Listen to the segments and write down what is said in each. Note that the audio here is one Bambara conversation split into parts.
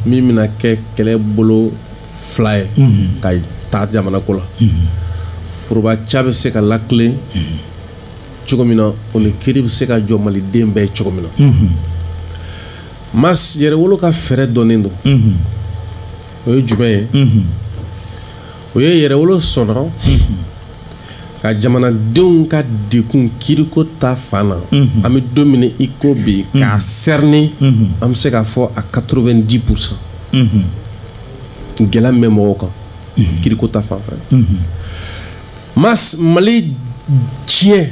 min bɛna kɛ kɛlɛ bolo fila ye ka taa jamana ko la foroba ca bɛ se ka latilen cogo min na o ni kiri bɛ se ka jɔ maliden bɛɛ ye cogo min na mas yɛrɛwolo ka fɛɛrɛ dɔnnen don o ye jumɛn ye o ye yɛrɛwolo sɔnna ka jamanadenw ka degun kiriko ta fan na mhm. an bɛ don min na i ko bi mhm. k'a sɛrinen mhm. an bɛ se k'a fɔ à 90 pourcent gɛlɛya min bɛ mɔgɔw kan kiriko ta fan fɛ mas mali tiɲɛ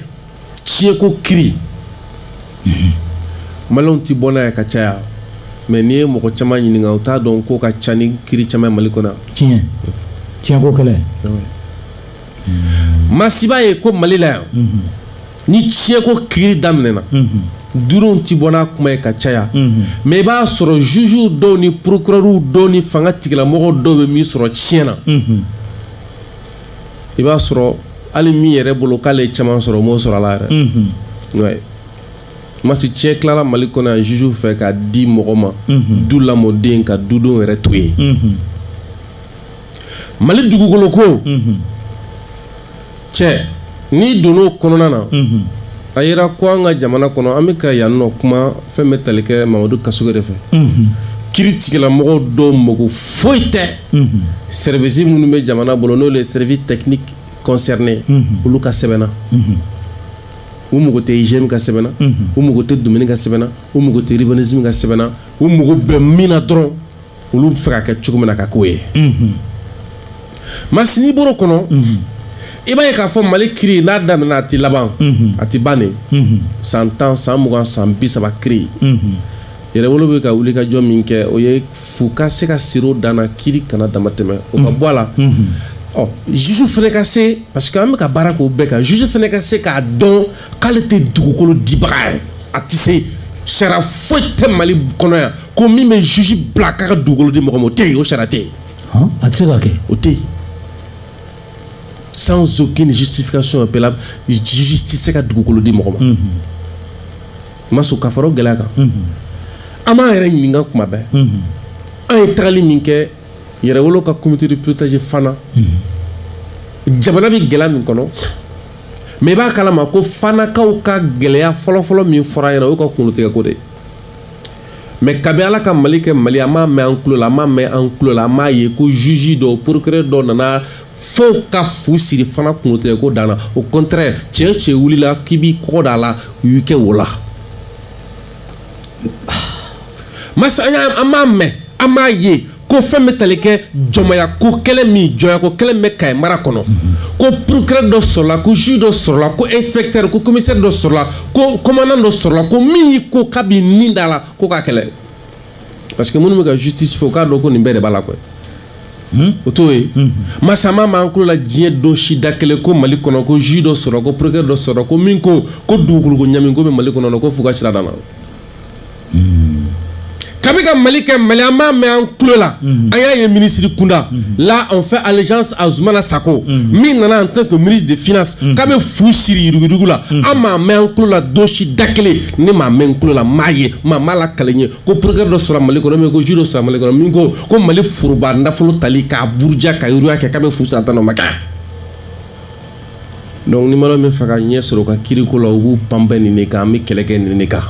tiɲɛko kiri maliyɛnw ti bɔ n'a ye ka caya mɛ n'i ye mɔgɔ caman ɲininka u t'a dɔn k'o ka ca ni kiri caman mali kɔnɔ tiɲɛ tiɲɛko kɛlɛ masiba ye ko mali la yan mhm. ni tiɲɛko kiri daminɛna mhm. duuruw ti bɔ n'a kuma ye ka caya mhm. mɛ i b'a sɔrɔ jugew dɔw ni procureurw dɔw ni fanga tigilamɔgɔ dɔw bɛ min sɔrɔ tiɲɛ na i b'a sɔrɔ hali min yɛrɛ bolo k'ale ye caman sɔrɔ o m'o sɔrɔ a la yɛrɛ mhm. ouais. masi tiɲɛ tilala mali kɔnɔ yan juge fɛ k'a di mɔgɔ ma mhm. du lamɔden ka dudenw yɛrɛ to yen mhm. mali dugukolo ko cɛ n'i donn'o kɔnɔna na a yera ko an ka jamana kɔnɔ an bɛ ka yan nɔ kuma fɛn bɛ tali kɛ mamadu kasoge de fɛ kiri tigilamɔgɔw dɔw mako foyi tɛ sɛrivisi minnu bɛ jamana bolo n'olu ye sɛrivisi tɛkiniki kɔnsɛrinen olu ka sɛbɛn na u mako tɛ IGM ka sɛbɛn na u mako tɛ domaine ka sɛbɛn na u mako tɛ urbanisme ka sɛbɛn na u mako bɛ min na dɔrɔn olu b'a fɛ k'a kɛ cogo min na ka k'o ye masini bolo kɔnɔ i b'a ye k'a fɔ mali kiri n'a daminɛna a tɛ laban a tɛ ban dɛ san tan san mugan san bi saba kiri yɛrɛwolo bɛ ka wuli ka jɔ min kɛ o ye fu ka se ka siri o dan na kiri kana dama tɛmɛ o ka bɔ a la ɔ juge fana ka se parce que an bɛ ka baara k'o bɛɛ kan juge fana ka se k'a dɔn k'ale tɛ dugukolo dibaga ye a tɛ se sariya foyi tɛ mali kɔnɔ yan ko min bɛ juge bila k'a ka dugukolo di mɔgɔ ma o tɛ yen o sariya tɛ yen. a tɛ se ka kɛ. o tɛ yen sans aucune justification préalable juge tɛ se ka dugukolo di mɔgɔ ma. masi ka fara o gɛlɛya kan. an b'an yɛrɛ ɲininka kuma bɛɛ. an ye tagali min kɛ. yɛrɛwolo ka comité de pilotage fana mhm. jamana bɛ gɛlɛya min kɔnɔ mɛ i b'a kalama ko fanakaw ka gɛlɛya fɔlɔfɔlɔ min fɔra ɲɛna o y'u ka kungolotigɛko de ye mɛ kabi ala ka mali kɛ mali an m'a mɛn an tulo la an m'a mɛn an tulo la an m'a ye ko juge dɔw procureur dɔw nana fo ka fu siri fana kungolotigɛko dan na au contraire cɛ o cɛ wulila k'i b'i kɔgɔ da a la u y'i kɛ wo la masa an y'a an m'a mɛn an m'a ye ko fɛn bɛ tali kɛ jɔnmayako kɛlɛ min jɔnyako kɛlɛ min bɛ Kayi mara kɔnɔ ko procureur dɔ sɔrɔla ko juge dɔ sɔrɔla ko inspecteur ko commissaire dɔ sɔrɔla ko commandant dɔ sɔrɔla ko min y'i ko k'a b'i ni da la ko k'a kɛlɛ parce que minnu bɛ ka justice fɔ k'a dɔn ko nin bɛɛ de b'a la koyi Hmm? o t'o ye hmm. an m'a mɛn an tulo la diɲɛ don si da kelen ko mali kɔnɔ ko juge dɔ sɔrɔ ko procureur dɔ sɔrɔ ko min ko ko dugukoloko ɲagami ko bɛ mali kɔnɔ ko fu ka siri a dan na Kabi ka mali kɛ mali an m'a mɛn an tulo la an y'a ye minisiri kunda la on fait allusion à Zoumana Sacko min nana en tant que ministre des finances k'a bɛ fu siri yuruguyurugu la an m'a mɛn an tulo la don si da kelen ne m'a mɛn tulo la m'a ye m'a lakalen ye ko procureur dɔ sɔrɔ mali kɔnɔ min ko juge sɔrɔ mali kɔnɔ min ko ko mali foroba nafolo tali k'a buruja ka yuruguyurugu kɛ k'a bɛ fu siri a dan na donc ni mɔgɔ min fɛ ka ɲɛ sɔrɔ ka kiiriko la u b'u banban nin de kan an bɛ kɛlɛ kɛ nin de kan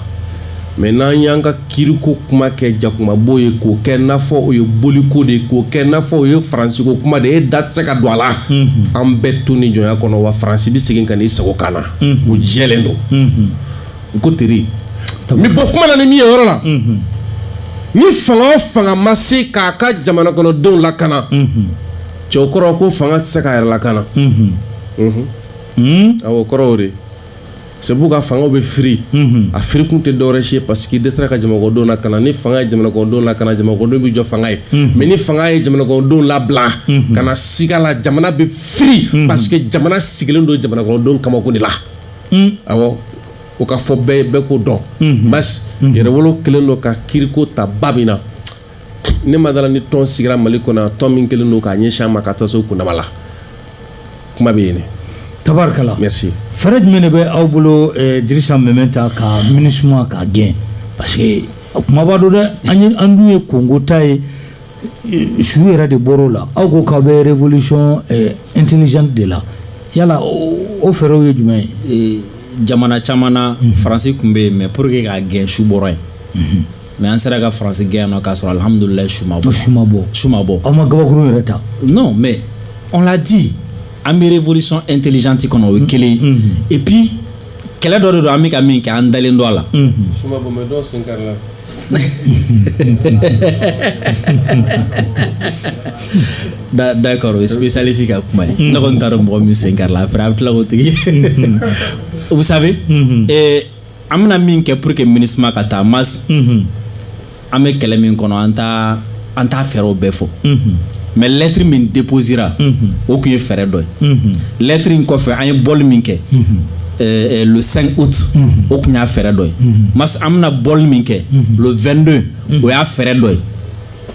mais n'an y'an ka kiiriko kuma kɛ jakumabo ye k'o kɛ n'a fɔ o ye boliko de ye k'o kɛ n'a fɔ o ye faransiko kuma de ye e da tɛ se ka don a la an bɛ to ni jɔnya kɔnɔ wa faransi bɛ segin ka n'i sigi an kan na o jɛlen don u ko teri n bɛ bɔ kuma na ni min ye yɔrɔ la ni fanga o fanga ma se k'a ka jamana kɔnɔdenw lakana cɛw kɔrɔ ko fanga tɛ se k'a yɛrɛ lakana o kɔrɔ de c'est pourquoi fanga bɛ firi a firikun tɛ dɔwɛrɛ si parce que dɛsɛra ka jamanakɔnɔdenw lakana ni fanga ye jamanakɔnɔdenw lakana jamanakɔnɔdenw bɛ jɔ fanga ye mais ni fanga ye jamanakɔnɔdenw labila kana siga a la jamana bɛ firi parce que jamana sigilen don jamanakɔnɔdenw kamako de la awɔ k'a fɔ bɛɛ bɛɛ ko dɔn basi yɛrɛwolo kelen don ka kiiriko ta ba min na ne ma da a la ni tɔn sigira mali kɔnɔ tɔn min kelen don k'a ɲɛsin a ma ka taa se kundama la kuma bɛ yen tabarikala merci fɛɛrɛ jumɛn de bɛ aw bolo eh, dirisa Meminta ka MINUSMA k'a gɛn parce que kumaba don dɛ an ye an dun ye kongo ta ye eh, su yɛrɛ de bɔr'o la aw ko k'aw bɛ révolution eh, intelligente de la yala o fɛɛrɛw ye jumɛn ye jamana caman na mhm. faransi tun bɛ yen mais pour que k'a gɛn su bɔra yen mhm. mais an sera ka faransi gɛn yan nɔ k'a sɔrɔ alihamudulila su ma bɔ su ma bɔ su ma bɔ aw ma gabakuru yɛrɛ ta non mais on l'a dit an bɛ révolution intelligente kɔnɔ o ye kelen ye mm-hmm. et puis kɛlɛ dɔ de don an bɛ ka min kɛ an dalen don a la mm-hmm. su ma bɔ mais dɔw sen karila dɛ d'accord o ye spécialiste ka kuma ye mm-hmm. ne kɔni t'a dɔn mɔgɔ min sen karila après a bɛ tila k'o tigi vous savez an bɛna min kɛ pour que minisma ka taa mas mhm. an bɛ kɛlɛ min kɔnɔ an taa an t'a fɛɛrɛw bɛɛ fɔ mhm. mais lɛtiri min deposera mhm. o tun ye fɛɛrɛ dɔ ye lɛtiri in kɔfɛ an ye bɔli min kɛ euh, euh, le 5 août o tun y'a fɛɛrɛ dɔ ye mas an bɛna bɔli min kɛ le 22 o y'a fɛɛrɛ dɔ ye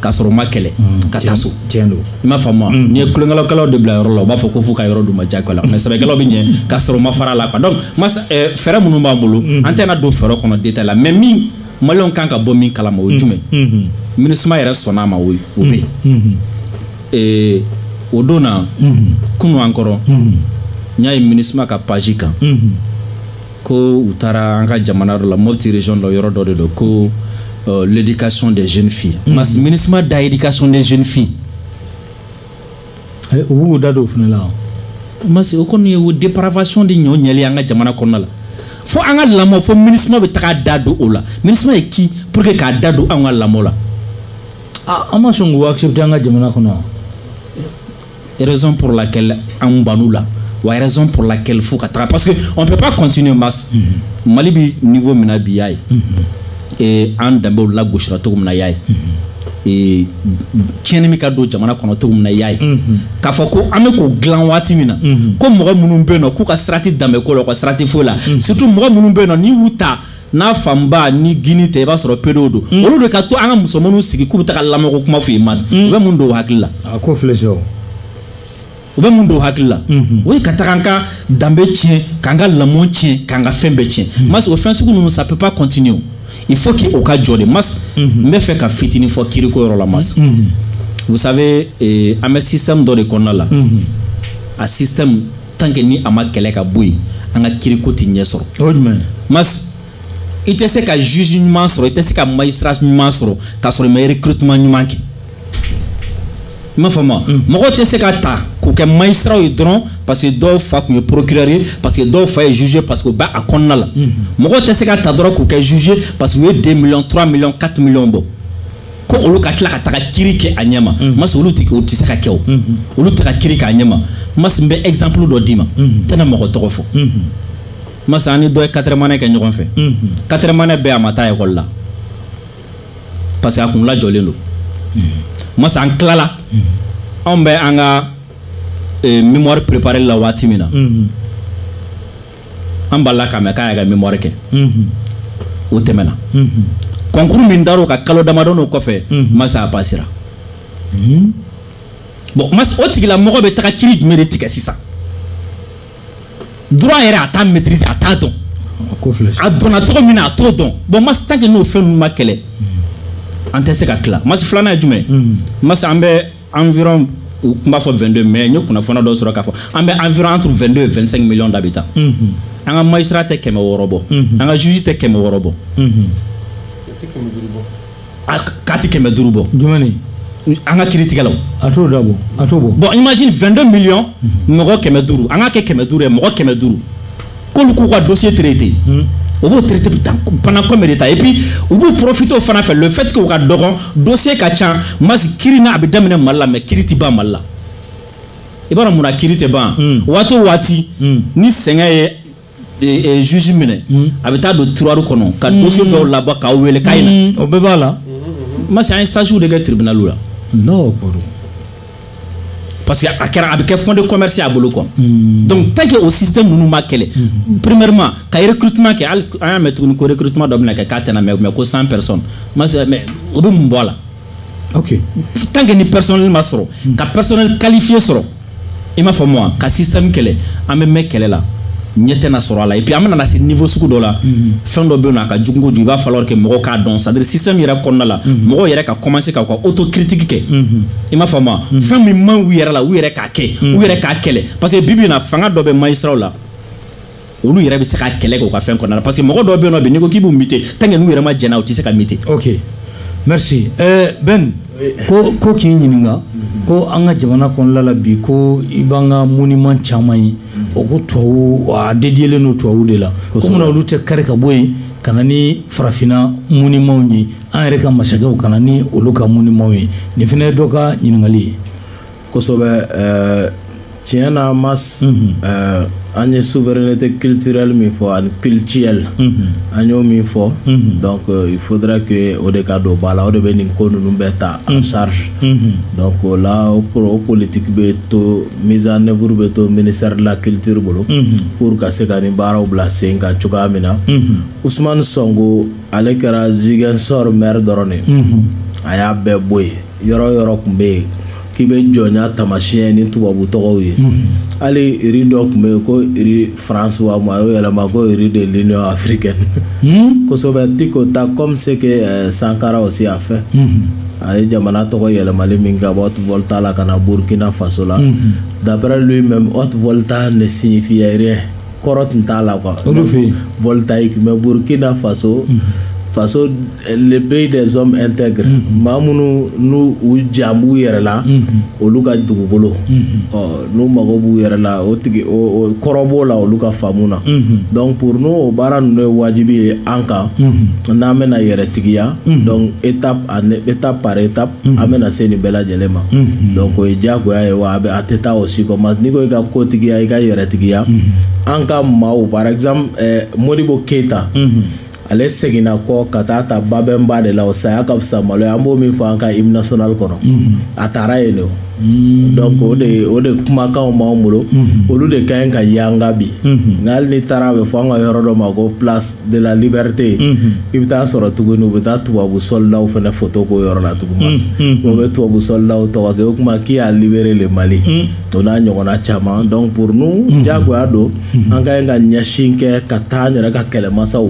k'a sɔrɔ ma kɛlɛ mm, ka taa so i m'a faamu mm. n'i ye tulonkɛlakɛlaw de bila yɔrɔ la u b'a fɔ ko fo ka yɔrɔ d'u ma jagoya la mais sɛbɛkɛlaw bɛ ɲɛ k'a sɔrɔ ma fara la quoi donc mas eh, fɛɛrɛ minnu b'an bolo mm. an tɛna don fɛɛrɛ kɔnɔ détail la mais min maliyɛnw kan ka bɔ min kalama o ye jumɛn mm-hmm. minisma yɛrɛ sɔnna a ma o o bɛ yen mm-hmm. eh, o don na mm-hmm. kunu an kɔrɔ n y'a ye minisma ka page kan ko u taara an ka jamana dɔ la mopti région la yɔrɔ dɔ de don ko euh, l'éducation des jeunes filles mm. mas minisma da éducation des jeunes filles eh, u b'u da don o fana la mas o kɔni ye o dépravation de ɲɔ ɲɛli an ka jamana kɔnɔna la fo an ka lamɔ fo minisma bɛ taga a da don o la minisma ye qui pour que k'a da don an ka lamɔ la ah, an ma sɔn k'o accepter an ka jamana kɔnɔ raison pour laquelle an ban'u la wa raison pour laquelle fo ka taga parce que on peut pas continuer mas mm -hmm. mali bɛ niveau min na bi y'a ye mm -hmm. e, an danbew lagosira cogo min na y'a ye mm -hmm. e, tiɲɛni min ka don jamana kɔnɔ cogo min na y'a ye mm -hmm. k'a fɔ ko an bɛ k'o dilan waati min na mm -hmm. ko mɔgɔ minnu bɛ yen nɔ k'u ka sira tɛ danbeko la u ka sira tɛ foyi la mm -hmm. surtout mɔgɔ minnu bɛ yen nɔ n'i y'u ta n'a fanba ni gouine tɛ i b'a sɔrɔ pédé don mm. olu de ka to an ka musomanninw sigi k'u bɛ taa ka lamɔko kuma f'u ye mas mm. u bɛ mun don hakili la a ko filɛ c'est u bɛ mun don hakili la mm-hmm. o ye ka taga an ka danbe tiɲɛ k'an ka lamɔ tiɲɛ k'an ka fɛn bɛɛ tiɲɛ mm. mas o fɛn sugu ninnu ça peut pas continuer il faut que o ka jɔ de mas mm-hmm. n b'a fɛ ka fitinin fɔ kiriko yɔrɔ la mas mm-hmm. vous savez eh, an bɛ système dɔ de kɔnɔna la a système tant que ni a ma kɛlɛ ka bɔ yen an ka kiriko tɛ ɲɛ sɔrɔ. o ye jumɛn ye. mas i tɛ se ka juge ɲuman sɔrɔ i tɛ se ka magistrat ɲuman sɔrɔ k'a sɔrɔ i ma recrutement ɲuman kɛ i m'a faamu mm. mɔgɔw tɛ se ka ta k'u kɛ magistratw ye dɔrɔn parce que dɔw fa tun ye procureur ye parce que dɔw fa ye juge parce que u bɛ a kɔnɔna la mm-hmm. mɔgɔw tɛ se ka ta dɔrɔn k'u kɛ juge parce que u ye 2 millions 3 millions 4 millions bɔ. ko olu ka tila ka taga kiri kɛ a ɲɛma mm-hmm. mas olu tɛ o tɛ se ka kɛ o mm-hmm. olu tɛ ka kiri k'a ɲɛma mas n bɛ exemple dɔ d'i ma mm-hmm. n tɛna mɔgɔ tɔgɔ fɔ mas an ni dɔ ye quatrième année kɛ ɲɔgɔn fɛ quatrième année bɛɛ a ma taa ekɔli la parce que a kun lajɔlen don mas an tilala anw bɛ an ka eh, mémoire préparer la waati min na an b'a la k'a mɛn k'an yɛrɛ ka mémoire kɛ o tɛmɛna concours min dar'o kan kalo damadɔni o kɔfɛ masa a pasira bon masa o tigilamɔgɔ bɛ taga kiri jumɛn de tigɛ sisan droit yɛrɛ a t'a maîtriser a t'a dɔn a donna cogo min na a t'o dɔn bon masa tant que n'o fɛn ninnu ma kɛlɛ an tɛ se ka tila masa filanan ye jumɛn masa an bɛ environ u tun b'a fɔ 22 mais n ye kunnafoni dɔ sɔrɔ k'a fɔ an bɛ environ entre 22 et 25 millions d'habitants an ka magistrat tɛ kɛmɛ wɔɔrɔ bɔ an ka juge tɛ kɛmɛ wɔɔrɔ bɔ a k'a tɛ kɛmɛ duuru bɔ jumɛn ni an ka kiritigɛlaw a t'o da bɔ a t'o bɔ bon imagine 22 millions mɔgɔ kɛmɛ duuru an k'a kɛ kɛmɛ duuru ye mɔgɔ kɛmɛ duuru k'olu k'u ka dossier traité hmm. u b'o traité ban en combien de temps et puis u b'u profité o fana fɛ le fait que u ka dɔgɔn dossier ka ca masi kiri na a bɛ daminɛ mali la mais kiri tɛ ban mali la i b'a dɔn mun na kiri tɛ ban hmm. waati o waati hmm. ni sɛgɛn ye e, e, juge minɛ a bɛ taa don tiroir kɔnɔ ka dossier dɔw labɔ k'aw wele k'a ye na o bɛɛ b'a la masi an ye stage de kɛ tribunal la. parce que a kɛra a bɛ kɛ fond de commerce a bolo quoi hmm. donc tant que o système ninnu ma kɛlɛ hmm. premièrement ka recrutement kɛ hali an y'a mɛn tuguni ko recrutement dɔ bɛna kɛ k'a tɛna mɛn mais ko 100 personnes ma se mais o bɛ mun bɔ a la ok tant que ni personnel ma sɔrɔ hmm. ka personnel qualifié sɔrɔ i m'a faamu wa ka système kɛlɛ an bɛ mɛn kɛlɛ la ɲɛ tɛna sɔrɔ a la et puis an bɛna na se niveau sugu dɔ la mhm. fɛn dɔ bɛ yen nɔ a ka jugu kojugu il va falloir que mɔgɔw k'a dɔn c'est à dire système yɛrɛ kɔnɔna la mhm. mɔgɔw yɛrɛ ka commencer ka u ka autocritique kɛ mhm. i m'a faamu wa fɛn min man u yɛrɛ la u yɛrɛ k'a kɛ u yɛrɛ k'a kɛlɛ parce que bi bi in na fanga dɔ bɛ magistrat la olu yɛrɛ bɛ se ka kɛlɛ kɛ u ka fɛn kɔnɔna la parce que mɔgɔ dɔw bɛ yen nɔ bi n'i ko k'i b'u muter tant que n'u yɛrɛ ma jɛna u tɛ se ka muter. ok merci ɛɛ euh, Ben ko ko k'i ɲininka ko an ka jamana kɔnɔna la bi ko i b'an ka monument caman ye. o ko tubabu a dédiélen don tubabu de la ko munna olu tɛ kari ka bɔ yen ka na ni farafinna monumentw ye an yɛrɛ ka masakɛw ka na ni olu ka monumentw ye nin fana ye dɔ ka ɲininkali ye kosɛbɛ ɛɛ tiɲɛ na mas ɛɛ an ye souveraineté culturelle min fɔ ani culturelle an y'o min fɔ donc euh, il faudra que o de ka don ba la o de bɛ nin ko ninnu bɛɛ ta en charge donc o la o pro- o politique bɛ to mise en œuvre bɛ to ministère de la culture bolo pour ka se ka nin baaraw bila sen kan cogoya min na Ousmane Sonko ale kɛra Ziguinchor maire dɔrɔn de ye a y'a bɛɛ bɔ yen yɔrɔ yɔrɔ tun bɛ yen k'i bɛ jɔnya taamasiyɛn ni tubabu tɔgɔw ye hali rue dɔ tun bɛ yen ko rue France wa ma a y'o yɛlɛma ko rue de l'Union africaine kosɛbɛ Tiko ta comme ce que euh, Sankara aussi a fait a ye jamana tɔgɔ yɛlɛmali min ka bɔ Haute Volta la ka na burukina faso la d'après lui-même Haute Volta ne signifie rien kɔrɔ tun t'a la voltaïque mais burukina faso faso le pays des hommes intègres maa minnu n'u ja b'u yɛrɛ la olu ka dugukolo ɔ n'u mago b'u yɛrɛ la o tigi kɔrɔ b'o la olu ka faamu na donc pour nous o baara ninnu ye wajibi ye an kan n'an bɛna yɛrɛ tigiya Mm. donc étape étape par étape mm. an bɛna se nin bɛɛ lajɛlen ma mm. donc o ye diyagoya ye wa a bɛ a tɛ taa o si kɔ mas n'i ko i ka kotigiya i ka yɛrɛtigiya an ka maaw par exemple eh, modibo keyita mm-hmm. ale seginna kɔ ka taa ta babɛnba de la o saya ka fisa malo ye an b'o min fɔ an ka hymne national kɔnɔ mm-hmm. a taara yen de o Mm. donc o de o de kumakanw b'an bolo mm-hmm. olu de ka ɲi ka yanga bi mm-hmm. nka hali n'i taara a bɛ fɔ an ka yɔrɔ dɔ ma ko place de la liberté mm-hmm. i bɛ taa sɔrɔ tuguni u bɛ taa tubabu sɔlidaw fana foto k'o yɔrɔ la tuguni o bɛ tubabu sɔlidaw tɔgɔ kɛ o kuma qui a libéré le Mali o n'a ɲɔgɔnna caman donc pour nous diyagoya don an ka ɲi ka ɲɛsin kɛ ka taa an yɛrɛ ka kɛlɛmasaw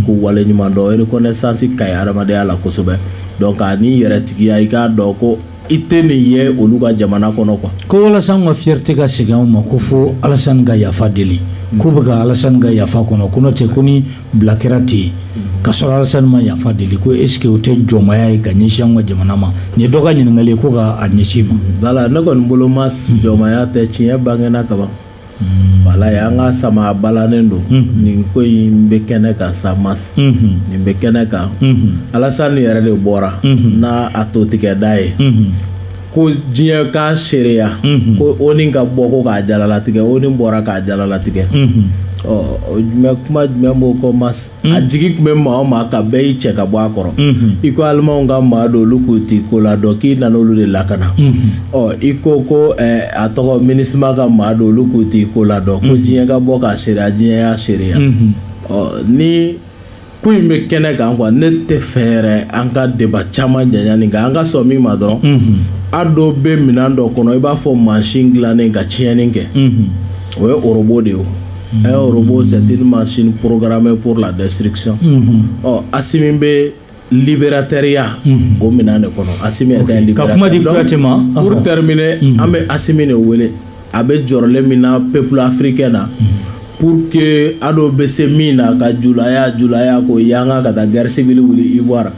k'u waleɲuman dɔn reconnaissance ka ɲi hadamadenya la kosɛbɛ donc ani yɛrɛtigiya i k'a dɔn ko i tɛ nin ye olu ka jamana kɔnɔ quoi ko walasa an ka fierté ka segin anw ma ko fo alasani ka yafa deli mm. k'u bɛ ka alasani ka yafa kɔnɔ ko n'o tɛ ko ni bila kɛra ten yen mm. ka sɔrɔ alasani ma yafa deli ko est ce que o tɛ jɔnmaya ye ka ɲɛsin anw ka jamana ma nin ye dɔ ka ɲininkali ye ko k'a ɲɛsin i ma. wala ne kɔni bolo ma jɔnmaya tɛ tiɲɛ bangena kaban. walayi an ka sama balanen don nin ko in bɛ kɛnɛ kan sa mas nin bɛ kɛnɛ kan alasani yɛrɛ de bɔra n'a a to tigɛda ye ko diɲɛ k'a seereya ko ONU ka bɔ ko k'a jalalatigɛ ONU bɔra k'a jalalatigɛ ɔ jumɛn kuma jumɛn b'o kɔ mas a jigi tun bɛ maa o maa kan bɛɛ y'i cɛ ka bɔ a kɔrɔ i ko alimanw ka maa don olu k'u t'i ko la dɔn k'i nana olu de lakana ɔ i ko ko a tɔgɔ MINUSMA ka maa don olu k'u t'i ko la dɔn ko diɲɛ ka bɔ k'a seereya diɲɛ y'a seereya ɔ nin ko in bɛ kɛnɛ kan quoi ne t'a fɛ yɛrɛ an ka débat caman janya nin kan an ka sɔn min ma dɔrɔn ADO bɛ minɛn dɔ kɔnɔ i b'a fɔ mansin dilannen ka tiɲɛni kɛ o ye robot de ye un robot c'est une machine programmée pour la destruction unhun ɔ Asimi bɛ libérateur ya unhun o minɛn de kɔnɔ Asimi yɛrɛ okay. ka kuma di Kuyate ma pour terminer an bɛ Asimi de wele a bɛ jɔrɔlen min na peuple africain na pour que ADO bɛ se min na ka julaya julaya k'o yanga ka taa guerre civile wuli Ivoire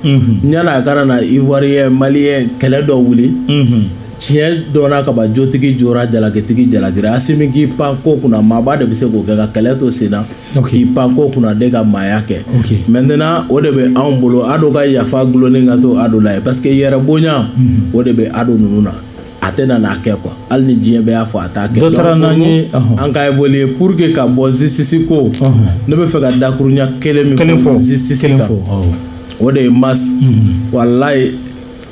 yan a kana na Ivoirien Malien kɛlɛ dɔ wuli unhun tiɲɛ dɔnna kaba jotigi jora jalakitigi jalakira asimi k'i pan ko kunna maaba de bɛ se k'o kɛ ka kɛlɛ to sen na k'i pan ko kunna de ka maaya kɛ maintenant o de bɛ anw bolo ado ka yafa gulonnen ka to ado la ye parce que yɛrɛbonya mhm. o de bɛ ado ninnu na a tɛ na n'a kɛ quoi hali ni diɲɛ bɛɛ y'a fɔ a t'a kɛ dɔ taara n'an ye an ka évoluer pour que ka bɔ justice ko ne b'a fɛ ka dakuruɲɛ kelen min fɔ justice kan o de ye mas mhm. walayi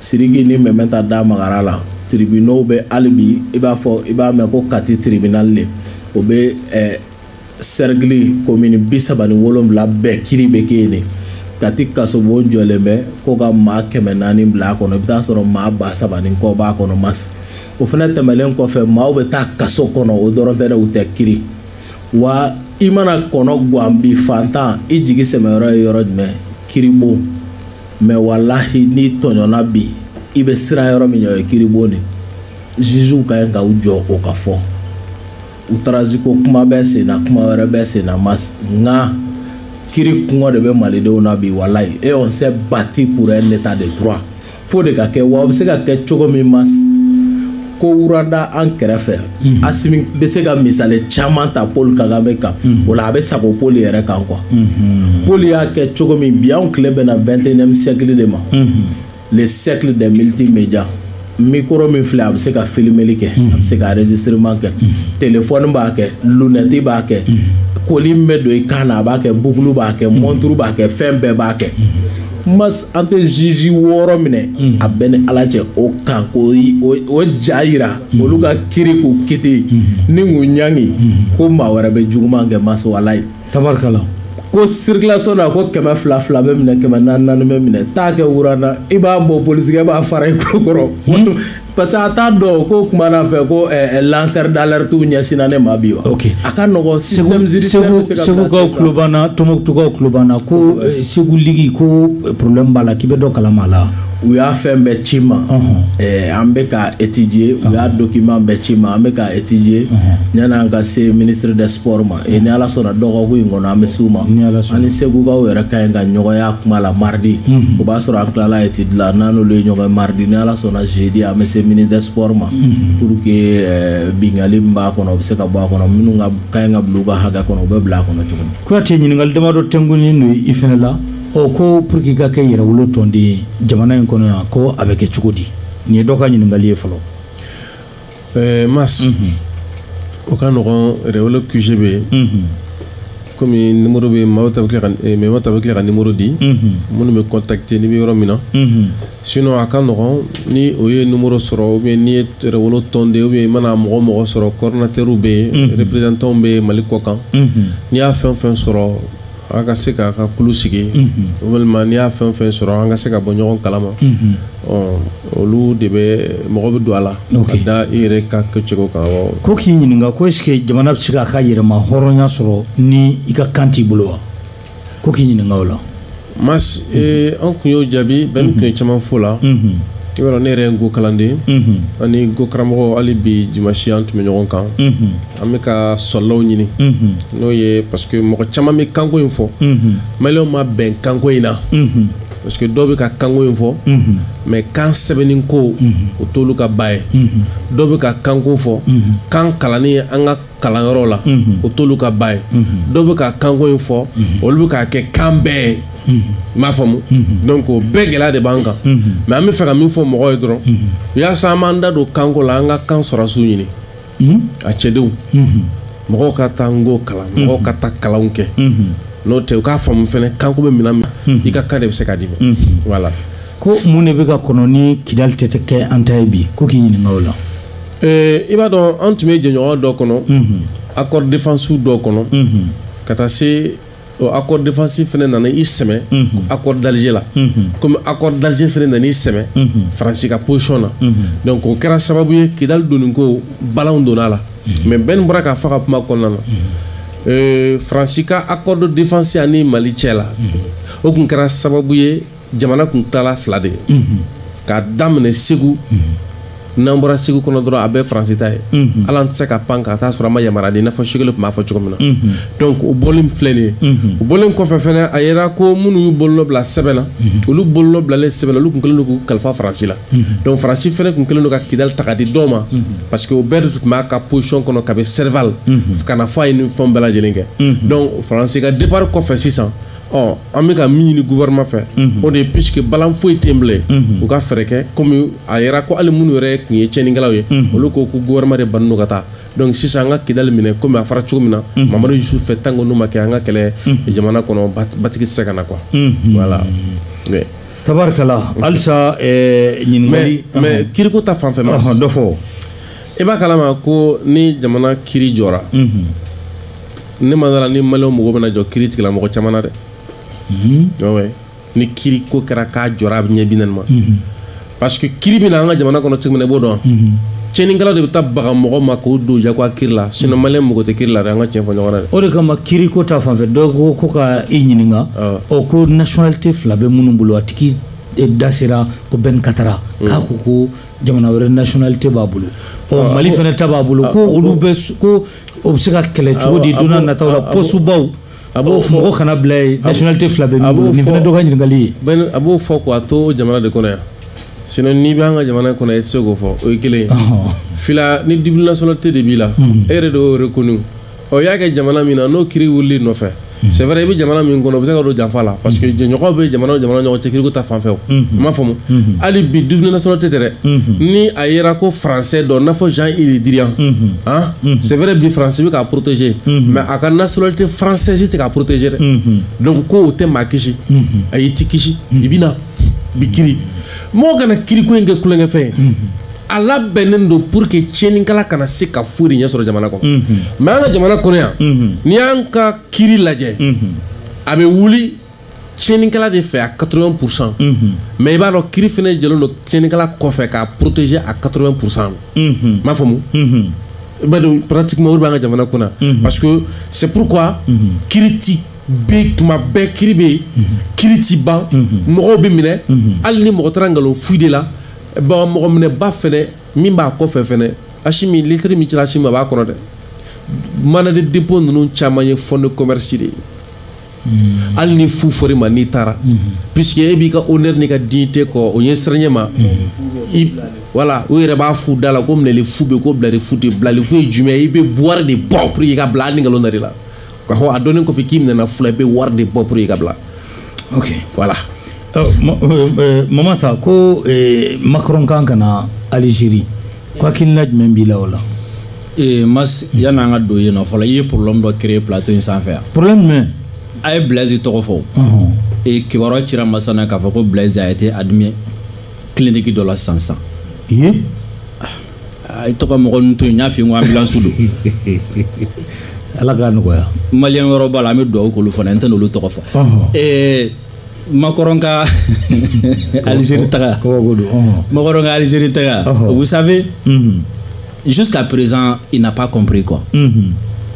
Siriki ni mɛmɛ ta da magara la tribunaux bɛɛ hali bi i b'a fɔ i b'a mɛn ko kati tribunal de o bɛ eh, cercle commune bi saba ni wolonwula bɛɛ kiri bɛ kɛ yen de kati kasobon jɔlen bɛ ko ka maa kɛmɛ naani bila a kɔnɔ i bɛ taa sɔrɔ maa ba saba ni kɔ b'a kɔnɔ mas o fana tɛmɛnen kɔfɛ maaw bɛ taa kaso kɔnɔ o dɔrɔn tɛ dɛ u tɛ kiri wa i mana kɔnɔgan bi faantan i jigi sɛmɛyɔrɔ ye yɔrɔ jumɛn kiribon mais walayi n'i tɔɲɔna bi i bɛ siran yɔrɔ min ɲɛ o ye kiribon de jugew ka ɲi ka u jɔ o ka fɔ outrage ko kuma bɛ sen na kuma wɛrɛ bɛ sen na mas nka kiri kɔngɔ de bɛ malidenw na bi walayi et on s'est battu pour un état de droit fo o de ka kɛ wa o bɛ se ka kɛ cogo min mas ko rwanda an kɛrɛfɛ mhm. asimi bɛ se ka misali caman ta paul kagame kan mhm. o la a bɛ sago paul yɛrɛ kan quoi mhm. paul y'a kɛ cogo min bi anw tile bɛna vingt et unième siècle de ma le siècle de multimédia micro min filɛ a bɛ se ka filimeli kɛ a bɛ se ka enregistrement kɛ telefɔni b'a kɛ lunɛti b'a kɛ collier min bɛ don i kan na a b'a kɛ bukulu b'a kɛ mɔnturu b'a kɛ fɛn bɛɛ b'a kɛ mas an tɛ juge wɔɔrɔ minɛ mhm. a b'i ni ala cɛ o kan k'u ja yira mhm. olu ka kiri k'u kiti mhm. ni k'u ɲangi ko maa wɛrɛ bɛ juguman kɛ mas walayi tabarikala ko circulation na ko kɛmɛ fila fila bɛ minɛ kɛmɛ naani naani bɛ minɛ taa kɛ wurana i b'a bɔ polisikɛ b'a fara i kulo kɔrɔ parce que a t'a dɔn ko kuma na fɛ ko eh, eh, lanceur d'alerte ɲɛsinna ne ma bi wa ok a ka nɔgɔ système judiciaire bɛ se ka segukaw tulo b'an na tɔnbɔkutukaw tulo b'an na ko eh, segu ligue ko problème b'a la k'i bɛ dɔ kalama a la u y'a fɛn bɛɛ ci n ma eh, an bɛ k'a étudier u y'a document bɛɛ ci n ma an bɛ k'a étudier yan'an ka se ministre des sports ma E ni ala sɔnna dɔgɔkun in kɔnɔ an bɛ se u ma an ni segukaw yɛrɛ ka ɲi ka ɲɔgɔn ye kuma la mardi o b'a sɔrɔ an tilala étude la n'an n'olu ye ɲɔgɔn mardi ni ala sɔnna jeudi an bɛ se ministre des sports ma pour que binkali b'a kɔnɔ bɛ se ka bɔ a kɔnɔ minnu ka ɲi ka bila u ka hakɛ kɔnɔ u bɛ bila a kɔnɔ cogo kuyate ɲininkali damadɔ tɛkun don i fana la ɔ ko pour que ka kɛ yɛrɛwolo tɔnden jamana in kɔnɔ yan ko a bɛ kɛ cogo di nin ye dɔ ka ɲininkali ye fɔlɔ ɛɛ mas o ka nɔgɔn yɛrɛwolo QG bɛ yen komi nimoro bɛ maaw ta bɛ tila ka eh, mɛma ta bɛ tila ka nimoro di minnu bɛ contacter n'i bɛ yɔrɔ min na sinon a ka nɔgɔn ni o ye nimoro sɔrɔ ou bien ni yɛrɛwolo tɔnden ou bien i mana mɔgɔ o mɔgɔ sɔrɔ coordinateur bɛ yen représentant bɛ yen mali kɔ kan n'i y'a fɛn o fɛn sɔrɔ an ka se k'a ka kulu sigi walima n'i y'a fɛn fɛn sɔrɔ an ka se ka bɔ ɲɔgɔn kalama olu de bɛ mɔgɔ bɛɛ don a la ka da i yɛrɛ ka kɛcogo kan ko k'i ɲininka ko est-ce jamana bɛ se k'a ka yɛrɛmahɔrɔnya sɔrɔ ni i ka kan t'i bolo wa ko k'i ɲininka o la ma an tun y'o jaabi bɛn tun ye caman fɔ o la i yɔrɔ ne yɛrɛ nko kalanden ani nko karamɔgɔ hali bi dimasi an tun bɛ ɲɔgɔn kan an bɛ ka sɔlɔw ɲini n'o ye parce que mɔgɔ caman bɛ kanko in fɔ maliyɛnw ma bɛn kanko in na parce que dɔw bɛ ka kanko in fɔ mais kan sɛbɛnni ko o t'olu ka ba ye dɔw bɛ ka kanko fɔ kan kalanni an ka kalanyɔrɔ la o t'olu ka ba ye dɔw bɛ ka kanko in fɔ olu bɛ k'a kɛ kan bɛɛ ye n m'a faamu donc o bɛɛ gɛlɛya de b'an kan mais an bɛ fɛ ka min fɔ mɔgɔw ye dɔrɔn yasa an b'an da don kanko la an ka kan sɔrɔsiw ɲini a cɛdenw mɔgɔw ka taa nko kalan mɔgɔw ka taa kalanw kɛ n'o tɛ u k'a faamu fana kanko bɛ minɛn min i ka kan de bɛ se ka d'i ma voilà ko mun de bɛ ka kɔnɔ ni kidali tɛ kɛ an ta ye bi ko k'i ɲininka o la i b'a dɔn an tun bɛ jɛɲɔgɔn dɔ kɔnɔ accord défense dɔ kɔnɔ ka taa se accord défense fana nana i sɛmɛ accord d'alger la kɔmi accord d'alger fana nana i sɛmɛ faransi ka position na donc o kɛra sababu ye kidali donni ko balanw donna a la mais bɛn bɔra k'a fɔ a ka kuma kɔnɔna na faransi ka accord défense ani mali cɛ la o tun kɛra sababu ye jamana tun taara fila de ye k'a daminɛ segu n'an bɔra segu kɔnɔ dɔrɔn a bɛɛ faransi ta ye avion tɛ se ka pan ka taa sɔrɔ a ma yamaruya di n'a fɔ choguel tun b'a fɔ cogo min na donc o bɔlen filɛ nin ye o bɔlen kɔfɛ fɛnɛ a yira ko minnu y'u bolonɔ bila sɛbɛn na olu bolonɔ bilalen sɛbɛn na olu tun kɛlen don k'u kalifa faransi la donc faransi fɛnɛ tun kɛlen don ka kidali ta ka di dɔw ma parce que o bɛɛ de tun b'a ka position kɔnɔ ka bɛ serval ka na fɔ a ye nin fɛnw bɛɛ lajɛlen kɛ donc faransi ka départ kɔfɛ sisan ɔ an bɛ ka min ɲini gouvernement fɛ o de ye puisque balan foyi tɛ yen bilen u ka fɛɛrɛ kɛ komi a yira ko hali minnu yɛrɛ tun ye tiɲɛnikɛlaw ye olu ko ko gouvernement de bannen don ka taa donc sisan an ka kidali minɛ komi a fara cogo min na mamadu yusufu fɛ tant que n'o ma kɛ an ka kɛlɛ jamana kɔnɔ ba- basigi tɛ se ka na quoi voilà mais tabarikala halisa eh, mais ɲininkali mais kiriko ta fan fɛ ma Ɔhɔn, dɔ fɔ i b'a kalama ko ni jamana kiri jɔra ne ma da a la ni mali mɔgɔ bɛna jɔ kiri tigɛ la mɔgɔ caman na dɛ mhm. ni kiri ko kɛra k'a jɔra a bɛ ɲɛ bi naani ma mhm. parce que kiri bɛ na an ka jamana kɔnɔ cogo min na i b'o dɔn mhm. tiɲɛnikɛlaw de bɛ taa baga mɔgɔ ma k'o don jagoya kiri la sinɔn mali mɔgɔ tɛ kiri la dɛ an ka tiɲɛ fɔ ɲɔgɔn na dɛ o de kama kiri ko ta fanfɛ dɔw ko ko ka i ɲininka ɔ ko nationalité fila bɛ minnu bolo a tigi e, da sera ko bɛn katara mm. k'a ko ko jamana wɛrɛ nationalité b'a bolo ɔ mali fana ta b'a bolo ko olu bɛ ko o bɛ se ka kɛlɛ cogo di don nataw la pɔsubaw a b'o fɔ mɔgɔ kana bila yen nationalité fila bɛ min bolo nin fana dɔ ka ɲininkali ye a b'o fɔ k'a to o jamana de kɔnɔ yan sinon n'i bɛ an ka jamana kɔnɔ i tɛ se k'o fɔ o ye kelen ye fila ni double nationalité de b'i la e yɛrɛ de y'o reconnu ɔ i y'a kɛ jamana min na n'o kiri wulila i nɔfɛ c'est vrai i bɛ jamana min kɔnɔ bɛ se ka don janfa la parce que jɛɲɔgɔn bɛ jamana jamana ɲɔgɔn cɛ kiriko ta fanfɛ n b'a faamu hali bi double nationalité tɛ dɛ ni a yera ko français don n'a fɔ jean-yves le drian c'est vrai bi faransi bɛ k'a protéger mais a ka nationalité française tɛ k'a protéger dɛ donc ko o tɛ maa kisi ayi i tɛ kisi i bɛ na i bɛ kiri mɔgɔ kana kiriko in kɛ tulonkɛfɛn ye a labɛnnen don pour que tiɲɛnikɛla kana se ka foyi de ɲɛ sɔrɔ jamana kɔnɔ mhm. mais an ka jamana kɔnɔ yan mhm. n'i y'an ka kiri lajɛ mhm. a bɛ wuli tiɲɛnikɛla de fɛ à 80 pourcent mais i b'a dɔn kiri fana jɔlen don tiɲɛnikɛla kɔfɛ k'a protéger à 80 pourcent n b'a faamu i b'a dɔn pratiquement o de b'an ka jamana kɔnɔ yan parce que c'est pourquoi kiri ti ban tuma bɛɛ kiri bɛ yen kiri ti ban mɔgɔw bɛ minɛ hali ni mɔgɔ taara nkalon fu de la bon mɔgɔ minɛba fɛnɛ min b'a kɔfɛ fɛnɛ asimi lɛtiri min cira asimi ma a b'a kɔnɔ dɛ mandat de dépôt ninnu caman ye fond de commerce de ye hmm. hali ni fu fɔra i ma n'i taara hmm. puisque e b'i ka honneur n'i ka dignité kɔ o ye siranyɛ ma voilà hmm. u yɛrɛ b'a fɔ u da la ko minɛli fu bɛ ko bilali fu tɛ bilali fu ye jumɛn ye i bɛ wari de bɔ pour que i ka bila hali ni nkalon dara i la ka fɔ a dɔnnen kɔfɛ k'i minɛna fu la i bɛ wari de bɔ pour i ka bila ok voilà euh, euh, euh, mama ta ko macron kan ka na algérie ko hakilina jumɛn b'i la o la mas yanni an ka don yen nɔ fɔlɔ i ye problème dɔ créer plateau in sanfɛ yan problème jumɛn a ye blaise tɔgɔ fɔ e kibaruya cira an ma sisan k'a fɔ ko blaise a été admis clinique dɔ la sisan sisan i tɔgɔ mɔgɔ ninnu to yen n y'a f'i ye n ko ambulance don ala k'a nɔgɔya maliyɛn yɔrɔ b'a la an bɛ dugawu k'olu fana n tɛna olu tɔgɔ fɔ eh, macron ka algérie taga macron ka algérie taga vous savez mhm. jusqu'à présent il n'a pas compris quoi mhm.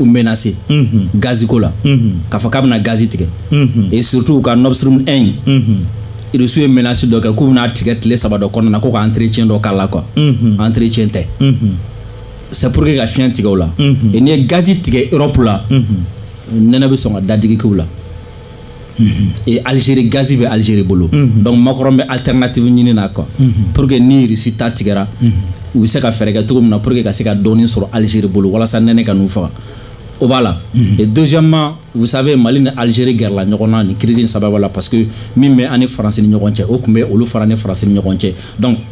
u menase gazi ko la k'a fɔ k'a bɛna gazi tigɛ et surtout u ka nord stream 1 irisiw ye menasi dɔ kɛ k'u bɛna a tigɛ tile saba dɔ kɔnɔna na ko ka entretien dɔ k'a la quoi entretien tɛ c'est pour que ka fiɲɛ tigɛ u la et n'i ye gazi tigɛ europe la nɛnɛ bɛ sɔn ka dadigi k'u la e Algérie gaz bɛ Algérie bolo donc Macron bɛ alternative ɲini na quoi pour que ni Russie ta tigɛra u bɛ se ka fɛɛrɛ kɛ cogo min na pour que ka se ka dɔɔni sɔrɔ Algérie bolo walasa nɛnɛ kana u faga o b'a la et deuxièmement vous savez Mali ni Algérie gɛrɛla ɲɔgɔn na nin crise in sababu la parce que min bɛ an ni France ni ɲɔgɔn cɛ o tun bɛ olu fana ni France ni ɲɔgɔn cɛ donc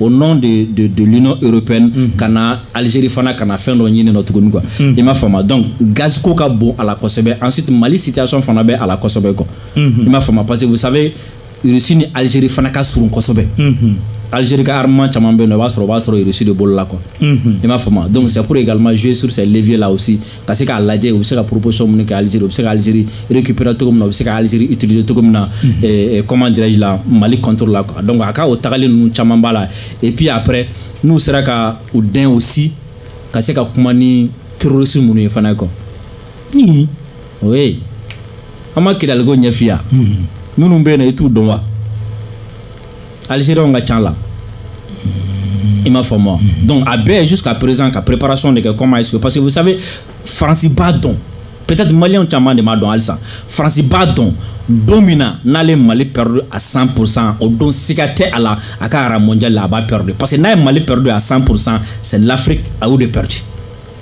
au nom de, de, de l'Union européenne mm -hmm. ka na Algérie fana ka na fɛn dɔ ɲini nɔ tuguni quoi mm -hmm. i m'a faamuya donc gaz ko ka bon a la kosɛbɛ ensuite Mali situation fana bɛ a la kosɛbɛ quoi mm -hmm. i m'a faamuya parce que vous savez Russie ni Algérie fana ka surun kosɛbɛ mm -hmm. Algérie ka armement caman bɛ yen nɔ u b'a sɔrɔ u b'a sɔrɔ Russie de bolo la quoi mm -hmm. i m'a faamuya donc c'est pour également jouer sur ces leviers là aussi ka se k'a lajɛ u bɛ se ka proposition minnu kɛ Algérie u bɛ se ka Algérie récupérer cogo min na u bɛ se ka Algérie utiliser cogo min na mhm. eh, eh, comment dirais-je la Mali contre la donc a ka o tagali ninnu caman b'a la et puis après n'u sera ka u dɛn aussi ka se ka kuma ni terroriste minnu ye fana quoi mhm. oui an ma kɛlɛliko ɲɛfiya mhm. minnu bɛ yen nɔ i t'u dɔn wa alizeriyanw ka ca a la i m'a faamu donc a bɛ jusqu'à présent ka préparation de kɛ comment est-ce que parce que vous savez faransi b'a dɔn peut-être maliyɛnw caman de m'a dɔn halisa faransi b'a dɔn don min na n'ale ye mali perdu à 100 pour cent o don siga tɛ a la a ka rang mondial la a b'a perdu parce que n'a ye mali perdu à 100 pour cent c'est l'afrique a y'o de perdu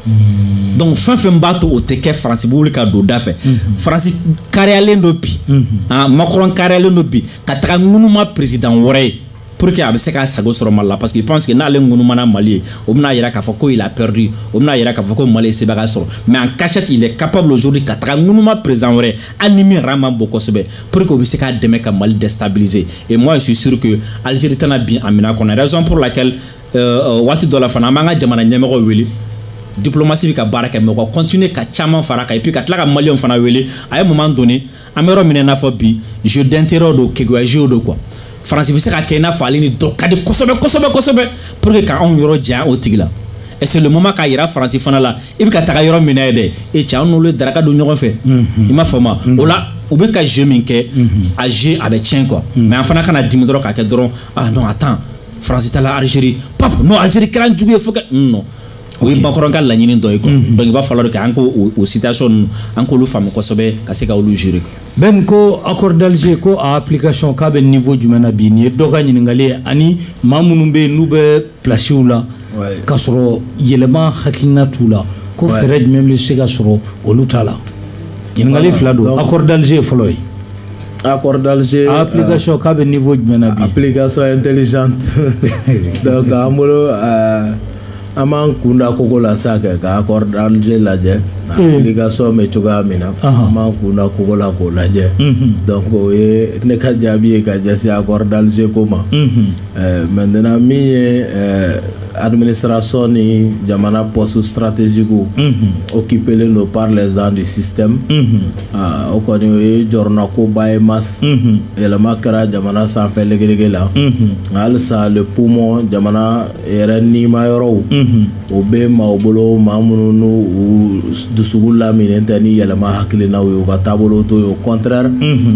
Mm. donc fɛn o fɛn b'a to o tɛ kɛ faransi wuli ka don da fɛ mm-hmm. faransi kariyalen don bi mm-hmm. ah, makɔrɔn kariyalen don bi ka taga ŋunuma peresidan wɛrɛ ye pour que a bɛ se k'a sago sɔrɔ mali la parce qu'il pense que n'ale ŋunumana mali ye o bɛna yira k'a fɔ ko il a perdu o bɛna yira k'a fɔ ko mali ye sebagaya sɔrɔ mais en cachette il est capable aujourd'hui ka taga ŋunuma président wɛrɛ hali ni min yɛrɛ man bon kosɛbɛ pour que o bɛ se k'a dɛmɛ ka mali déstabiliser et moi je suis sûr que algérie tɛna bin a minɛn kɔnɔ raison pour laquelle waati dɔ la fana an b'an ka jamana ɲɛmɔgɔw wele diplomasi bɛ ka baara kɛ mais u ka kɔntine ka caman fara a kan epi ka tila ka maliyɛnw fana wele à un moment donné an bɛ yɔrɔ min i n'a fɔ bi jeu d'intérêt don keguya jeu don quoi faransi bɛ se ka kɛ i n'a fɔ ale ni dɔ ka di kosɛbɛ kosɛbɛ kosɛbɛ pour que ka anw yɔrɔ janya o tigi la et c'est le moment k'a yira faransi fana la i bɛ ka taga yɔrɔ min na yen dɛ e cɛ an n'olu ye daraka dun ɲɔgɔn fɛ i m'a faamu o la u bɛ ka jeu min kɛ a jeu a bɛ tiɲɛ quoi mais an fana kana dimi dɔrɔn k'a kɛ dɔrɔn ah non attends faransi tala alizeri pap non alizeri kɛra jugu ye fo ka non o ye makɔrɔn ka laɲini dɔ ye quoi mm-hmm. donc il va falloir de k'an k'o situation ninnu an k'olu faamu kosɛbɛ ka se ka olu gérer ben ko accord d'alger ko a application k'a bɛ niveau jumɛn na bi nin ye dɔ ka ɲininkali ye ani maa minnu bɛ yen n'u bɛ plasiw la k'a sɔrɔ yɛlɛma hakilina t'u la ko fɛɛrɛ jumɛn bɛ se ka sɔrɔ olu t'a la ɲininkali fila don accord d'alger ye fɔlɔ ye A kɔrɔdalize a pkasi k'a bɛ nin fɔ jumɛn a pkasɔ in teli an bolo an b'an kunda kogo la sa kɛ ka kɔrɔdalize lajɛ kasɔ bɛ cogoya min na an b'an kunda kogo la k'o lajɛ o ye ne ka jaabi ye ka jɛ a kɔrɔdalize ko ma mɛ n min ye amini siranraso ni jamana pɔsi siratezku o k'iplen don zan de sisan Aa o kɔni o ye jɔrɔnakoba ye mais yɛlɛma kɛra jamana sanfɛ legelege la nka halisa le poumon jamana yɛrɛ nimayɔrɔw o bɛ maaw bolo maa minnu n'u dusukun laminnen tɛ ni yɛlɛma hakilinaw ye u ka taabolo t'o ye au contraire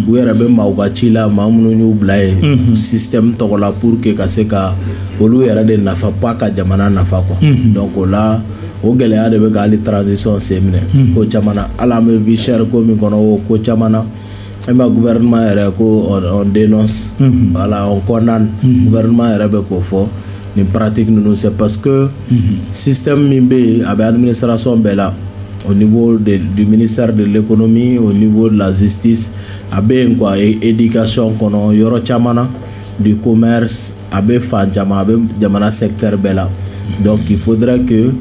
u yɛrɛ bɛ maaw ka ci la maa minnu y'u bila yen système tɔgɔ la pour que ka se ka olu yɛrɛ de nafa pas ka jamana nafa quoi donc o la o gɛlɛya de bɛ ka hali transition sen minɛ hmm. ko caman na hali an bɛ vie chère ko min kɔnɔ o ko caman na e ma gouvernement yɛrɛ ko on dénonce hmm. voilà on condamne hmm. gouvernement yɛrɛ bɛ k'o fɔ nin pratique ninnu c'est parce que système min bɛ yen a bɛ administration bɛɛ la au niveau de, du ministère de l'économie au niveau de la justice a bɛ yen quoi éducation kɔnɔ yɔrɔ caman na du commerce a bɛ fan caman a bɛ jamana secteur bɛɛ la donc il faudrait que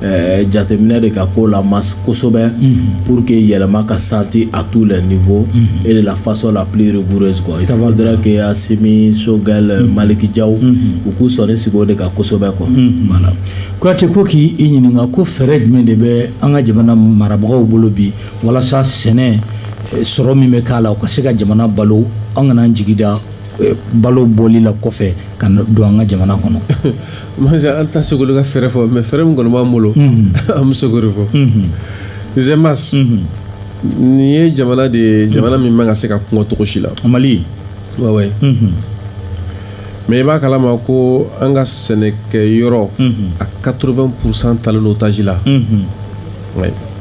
eh, jateminɛ de ka k'o la mais kosɛbɛ mm-hmm. pour que yɛlɛma ka senti à tous les niveaux mm-hmm. et de la façon la plus rigoureuse faudra que assimi choguel mm-hmm. malick diaw u k'u sɔnni sigi o de kan kosɛbɛ kola kuyate ko k'i i ɲininka ko fɛɛrɛ jumɛn de bɛ an ka jamana marabagaw bolo bi walasa sɛnɛ eh, sɔrɔ min bɛ k'a la o ka se ka jamana balo an kan'an jigi da eh, balo bɔli la kɔfɛ ka don an ka jamana kɔnɔ masa an tɛ se ko ka fɛɛrɛ fɔ mais fɛɛrɛ min kɔni b'an bolo mhm. an bɛ se k'o de fɔ mhm. zemas mhm. nin ye jamana de ye jamana min man ka se ka kɔngɔ cogo si la mali wawaye mais i b'a kalama ko an ka sɛnɛkɛ yɔrɔ a 80 pourcent talen don otage la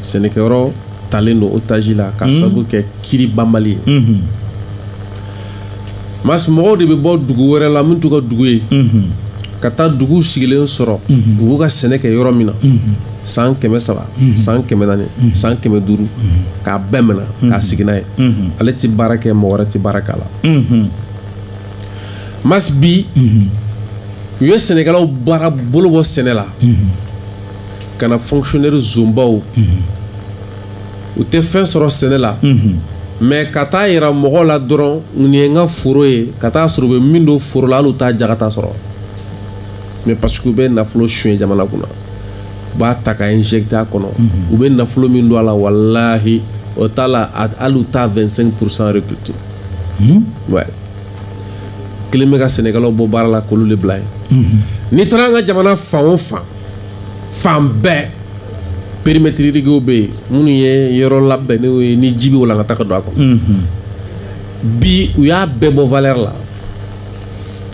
sɛnɛkɛ yɔrɔ talen don otage la ka sabu kɛ kɛlɛ banbali ye mas mɔgɔw de bɛ bɔ dugu wɛrɛ la min t'u ka dugu ye ka taa dugu sigilen sɔrɔ dugu ka sɛnɛkɛyɔrɔ min na san kɛmɛ saba san kɛmɛ naani san kɛmɛ duuru k'a bɛɛ minɛ k'a sigi n'a ye ale tɛ baara kɛ mɔgɔ wɛrɛ tɛ baara k'a la mas bi u ye sɛnɛkɛlaw baara bolo bɔ sɛnɛ la ka na fonctionnaire zonbaw u tɛ fɛn sɔrɔ sɛnɛ la mɛ ka taa yira mɔgɔ la dɔrɔn nin ye n ka foro ye ka taa sɔrɔ u bɛ min don foro la hali u t'a jagata sɔrɔ mɛ parce que u bɛ nafolo suɲɛ jamana kunna u b'a ta ka injecté a kɔnɔ u bɛ nafolo min don a la walahi o t'a la a- hali u t'a 25 pourcent récolté ouais. kɛlen bɛ ka sɛnɛkɛlaw bɔ baara la k'olu de bila yen n'i taara an ka jamana fan o fan fan bɛɛ périmètre irriguéw bɛ yen minnu ye yɔrɔ labɛnnen ye ni ji bɛ walangata ka don a kɔnɔ mhm. bi u y'a bɛɛ bɔ valeur la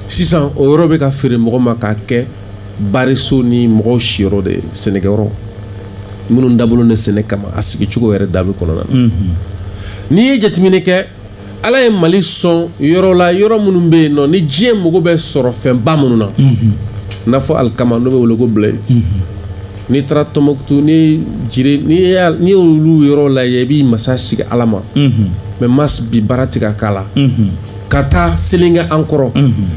sisan o yɔrɔ bɛ ka feere mɔgɔ ma k'a kɛ bariso ni mɔgɔw siyɔrɔ de ye sɛnɛkɛyɔrɔ minnu dabɔlen de sɛnɛ kama a sigi cogo yɛrɛ de b'o kɔnɔna na mhm. n'i ye jateminɛ kɛ ala ye mali sɔn yɔrɔ la yɔrɔ minnu bɛ yen nɔ ni diɲɛ mago bɛ sɔrɔfɛnba minnu na mhm. n'a fɔ alikama n'o bɛ wele ko blé mhm. n'i taara tɔnbukutu ni dire n'i y'olu yɔrɔ lajɛ i b'i masa sigi ala ma mhm. mɛ mas bi baara tɛ ka k'a la ka taa selenge an kɔrɔ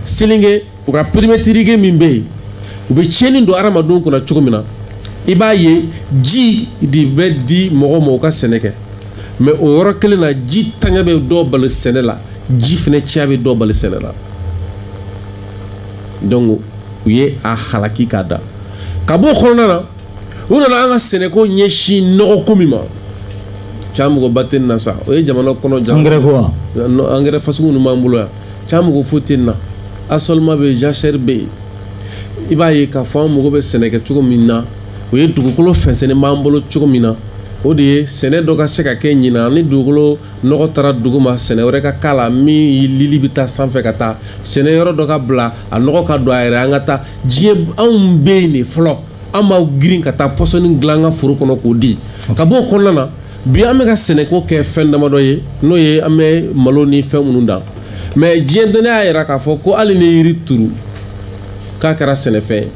selenge u ka périmètre irrigué min bɛ yen u bɛ tiɲɛni don adamadenw kunna cogo min na i b'a ye ji de bɛ di mɔgɔ ma u ka sɛnɛ kɛ mɛ o yɔrɔ kelen na jitanya bɛ dɔ bali sɛnɛ la ji fana caya bɛ dɔ bali sɛnɛ la donc u ye a halaki k'a da ka b'o kɔnɔna na u nana an ka sɛnɛko ɲɛsin nɔgɔko min ma cɛ magoba tɛ nin na sa o ye jamana kɔnɔ ja angɛrɛ ko wa angɛrɛ fasugu ninnu b'an bolo yan ca mago foyi tɛ na assolement bɛ yen jachère bɛ yen i b'a ye k'a fɔ an mago bɛ sɛnɛ kɛ cogo min na o ye dugukolo fɛnsɛnnen b'an bolo cogo min na o de ye sɛnɛ dɔ ka se ka kɛ ɲinan ni dugukolo nɔgɔ taara duguma sɛnɛ wɛrɛ ka k'a la min lili bɛ taa sanfɛ ka taa sɛnɛ yɔrɔ dɔ ka bila a nɔgɔ ka don a yɛrɛ an ka taa diɲɛ anw bɛ yen de fɔlɔ an b'an girin ka taa pɔsɔni dilan an ka foro kɔnɔ k'o di ka bɔ o kɔnɔna na bi an bɛ ka sɛnɛko kɛ fɛn damadɔ ye n'o ye an bɛ malo ni fɛn minnu dan mɛ diɲɛ dɔnni y'a yira k'a fɔ ko hali ni yiri turu k'a kɛra sɛnɛfɛn ye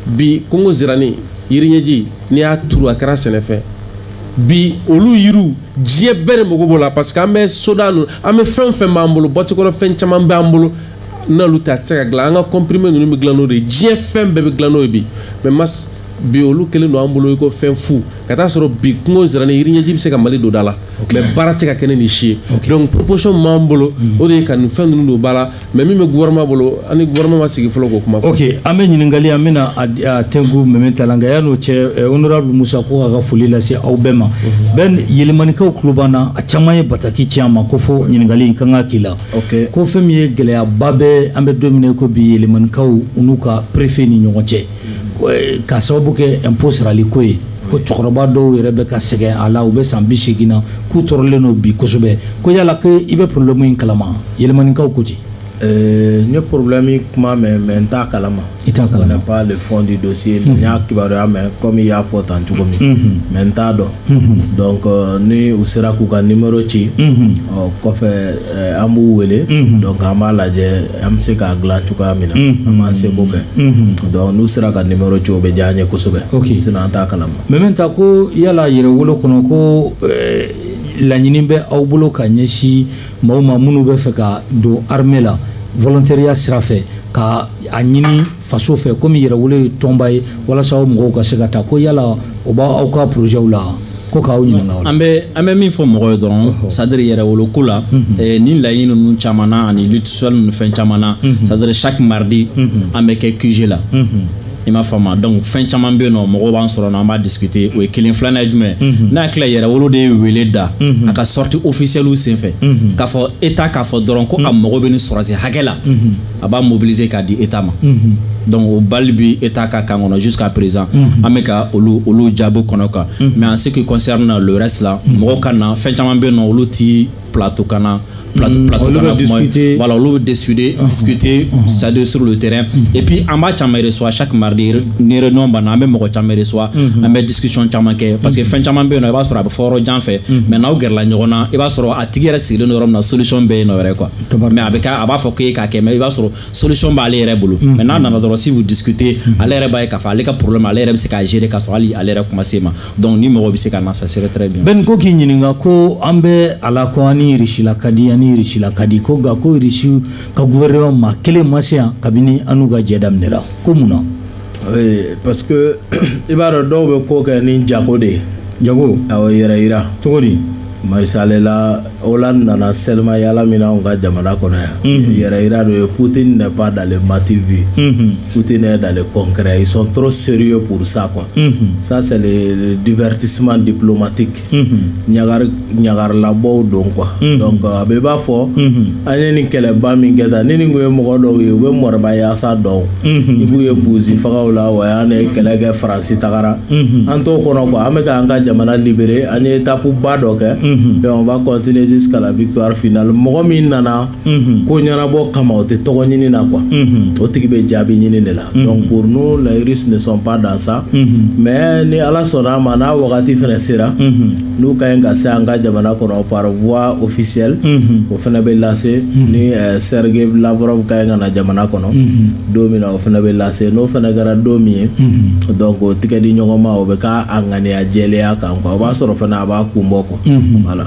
bi kungo zirani yiri ɲɛji n'i y'a turu a kɛra sɛnɛfɛn bi olu yiriw diɲɛ bɛɛ de mago b'o la parce que an bɛ soda ninnu an bɛ fɛn o fɛn b'an bolo boîte kɔnɔ fɛn caman b'an bolo n'olu tɛ a tɛ se ka dilan an ka kɔnpirime ninnu bɛ dilan n'o de ye diɲɛ fɛn bɛɛ bɛ dilan n'o ye bi mɛ mas bi olu kɛlen don an bolo i ko fɛn fu ka taa sɔrɔ bi kungo sira ni yiriɲɛji bɛ se ka mali don da la mais baara tɛ ka kɛ ni nin si ye donc proposition min b'an bolo mm. o de ye ka nin fɛn ninnu don ba la mais min bɛ gouvernement bolo an ni gouvernement ma sigi fɔlɔ k'o kuma fɔ ok an bɛ ɲininkali an bɛna a tɛnku mɛmɛ ta la nka yan'o cɛ eh, honorable musa ko k'a ka foli lase aw bɛɛ ma mhm. Ben yelimanikaw tulo b'an na a caman ye bataki ci an ma ko fo ɲininkali in ka kan ka k'i la ko fɛn min ye gɛlɛyaba bɛ an bɛ don min na i ko bi yelimanikaw u n'u ka préfet ni ɲɔgɔn cɛ eh, ka sababu kɛ impôt sarali ko ye ko cɛkɔrɔba dɔw yɛrɛ bɛ ka sɛgɛn a la u bɛ san bi seegin na k'u tɔɔrɔlen don bi kosɛbɛ ko yala ko i bɛ problème in kalama yelimanikaw ko ten eh, n ye problème kuma mɛn mais n t'a kalama i t'a kalama n pas le fond du dossier mais n y'a kibaruya mɛn comme i y'a fɔ tan cogo min mais mhm. n t'a dɔn mhm. donc euh, ni u sera k'u ka numéro ci mhm. o kɔfɛ Eh, an b'u wele mhm. donc an b'a lajɛ an bɛ se k'a dilan cogoya min na mhm. an b'an seko kɛ mhm. donc n'u sera ka numéro ci o bɛ diya an ye kosɛbɛ sinon an t'a kalama mɛmɛ ta ko yala yɛrɛwolo kɔnɔ ko eh, laɲini bɛ aw bolo ka ɲɛsin maaw ma minnu bɛ fɛ ka don armée la volontariat sira fɛ ka a ɲini faso fɛ comme yɛrɛwolo ye tɔnba ye walasa aw mɔgɔw ka se ka taa ko yala o b'aw ka porozɛw la ko k'aw ɲininka an bɛ an bɛ min fɔ mɔgɔ ye dɔrɔn c'est à dire yɛrɛwolo ko la mhm. eh, ni laɲini ninnu caman na ani litisɔli ninnu fɛn caman na mhm. c'est à dire chaque mardi mhm. an bɛ kɛ QG la i m'a faamu donc fɛn caman bɛ yen nɔ mɔgɔw b'an sɔrɔ an b'a discuter o ye kelen filanan ye jumɛn n'a tila yɛrɛwolo de ye wele da a ka sortie officielle senfɛ k'a fɔ État k'a fɔ dɔrɔn ko a mago bɛ nin sɔrɔsi hakɛ la a b'a mobiliser k'a di État ma mhm. donc o balle bi État ka camp kɔnɔ jusqu'à présent mhm. an bɛ ka olu olu jaabi kɔnɔ kan mhm. mais en ce qui concerne le reste la mɔgɔw ka na fɛn caman bɛ yen nɔ olu ti plateau kan na plateau mm, plateau kan na kuma voilà olu bɛ discuter uh-huh. discuter uh-huh. c'est à dire sur le terrain mm-hmm. et puis an b'a caman reçoit chaque mardi ni réunion banna an bɛ mɔgɔ caman reçoit mm-hmm. an bɛ discussion caman kɛ parce que mm-hmm. fɛn caman bɛ yen nɔ i b'a sɔrɔ a bɛ fɔ yɔrɔ jan fɛ mais n'aw gɛrɛla ɲɔgɔn na i b'a sɔrɔ a tigi yɛrɛ sigilen don yɔrɔ min na solution bɛ yen nɔ yɛrɛ quoi mais a bɛ kɛ a b'a fɔ k'e k'a kɛ mais i b'a sɔrɔ solution b'ale yɛrɛ bolo mm-hmm. mais n'a nana dɔrɔn si vous discutez mm-hmm. ale yɛrɛ b'a ye k'a fɔ ale ka problème ale yɛrɛ bɛ se k'a gérer k'a sɔrɔ hali ale yɛrɛ kun ma se a ma donc ni mɔgɔ bɛ se ka na ça serait très bien Ben ko k'i ɲininka ko an bɛ a la ko an ni Russie la ka di an ni Russie la ka di ko nka ko Russie ka gouvernement maa kelen ma se yan kabini an n'u ka jɛ daminɛra ko mun na parce i b'a dɔn dɔw bɛ ko kɛ ni jago de ye jago yɛrɛ yira cogo di masalela o la nana sema yalala min anw ka jamana kɔnɔ yan yɛrɛ yira don ye kute ne ba dalen mati vi kute ne dalen kɔnkɛ i sɔn tɔɔrɔ seri ye psa qu sa difiti suma dipmati kɛ ɲagari ɲagarilabɔw don quoi donc a bɛ i b'a fɔ an ye nin kɛlɛba min kɛ tan ni nin kun ye mɔgɔ dɔw ye u bɛ moribayasa dɔn i b'u ye misi fagaw la wa y'an ye kɛlɛ kɛ faransi tagara an t'o kɔnɔ quoi an bɛ k'an ka jamana libérer an ye étape ba dɔ kɛ donc on va continuer jusqu'à la victoire finale mɔgɔ min nana ko ɲɛnabɔ kama o tɛ tɔgɔ ɲini na quoi o tigi bɛ jaabi ɲini de la donc pour nous les Russes ne sont pas dans ça mais ni ala sɔnna a ma n'a wagati fana sera n'u ka ɲi ka se an ka jamana kɔnɔ par voie officielle o fana bɛ lase ni eh, Sergei Lavrov ka ɲi ka na jamana kɔnɔ don min na o fana bɛ lase n'o fana kɛra don min ye donc o tɛgɛ di ɲɔgɔn ma o bɛ k'a a ŋaniya jɛlenya kan quoi o b'a sɔrɔ fana a b'a kun bɔ quoi voilà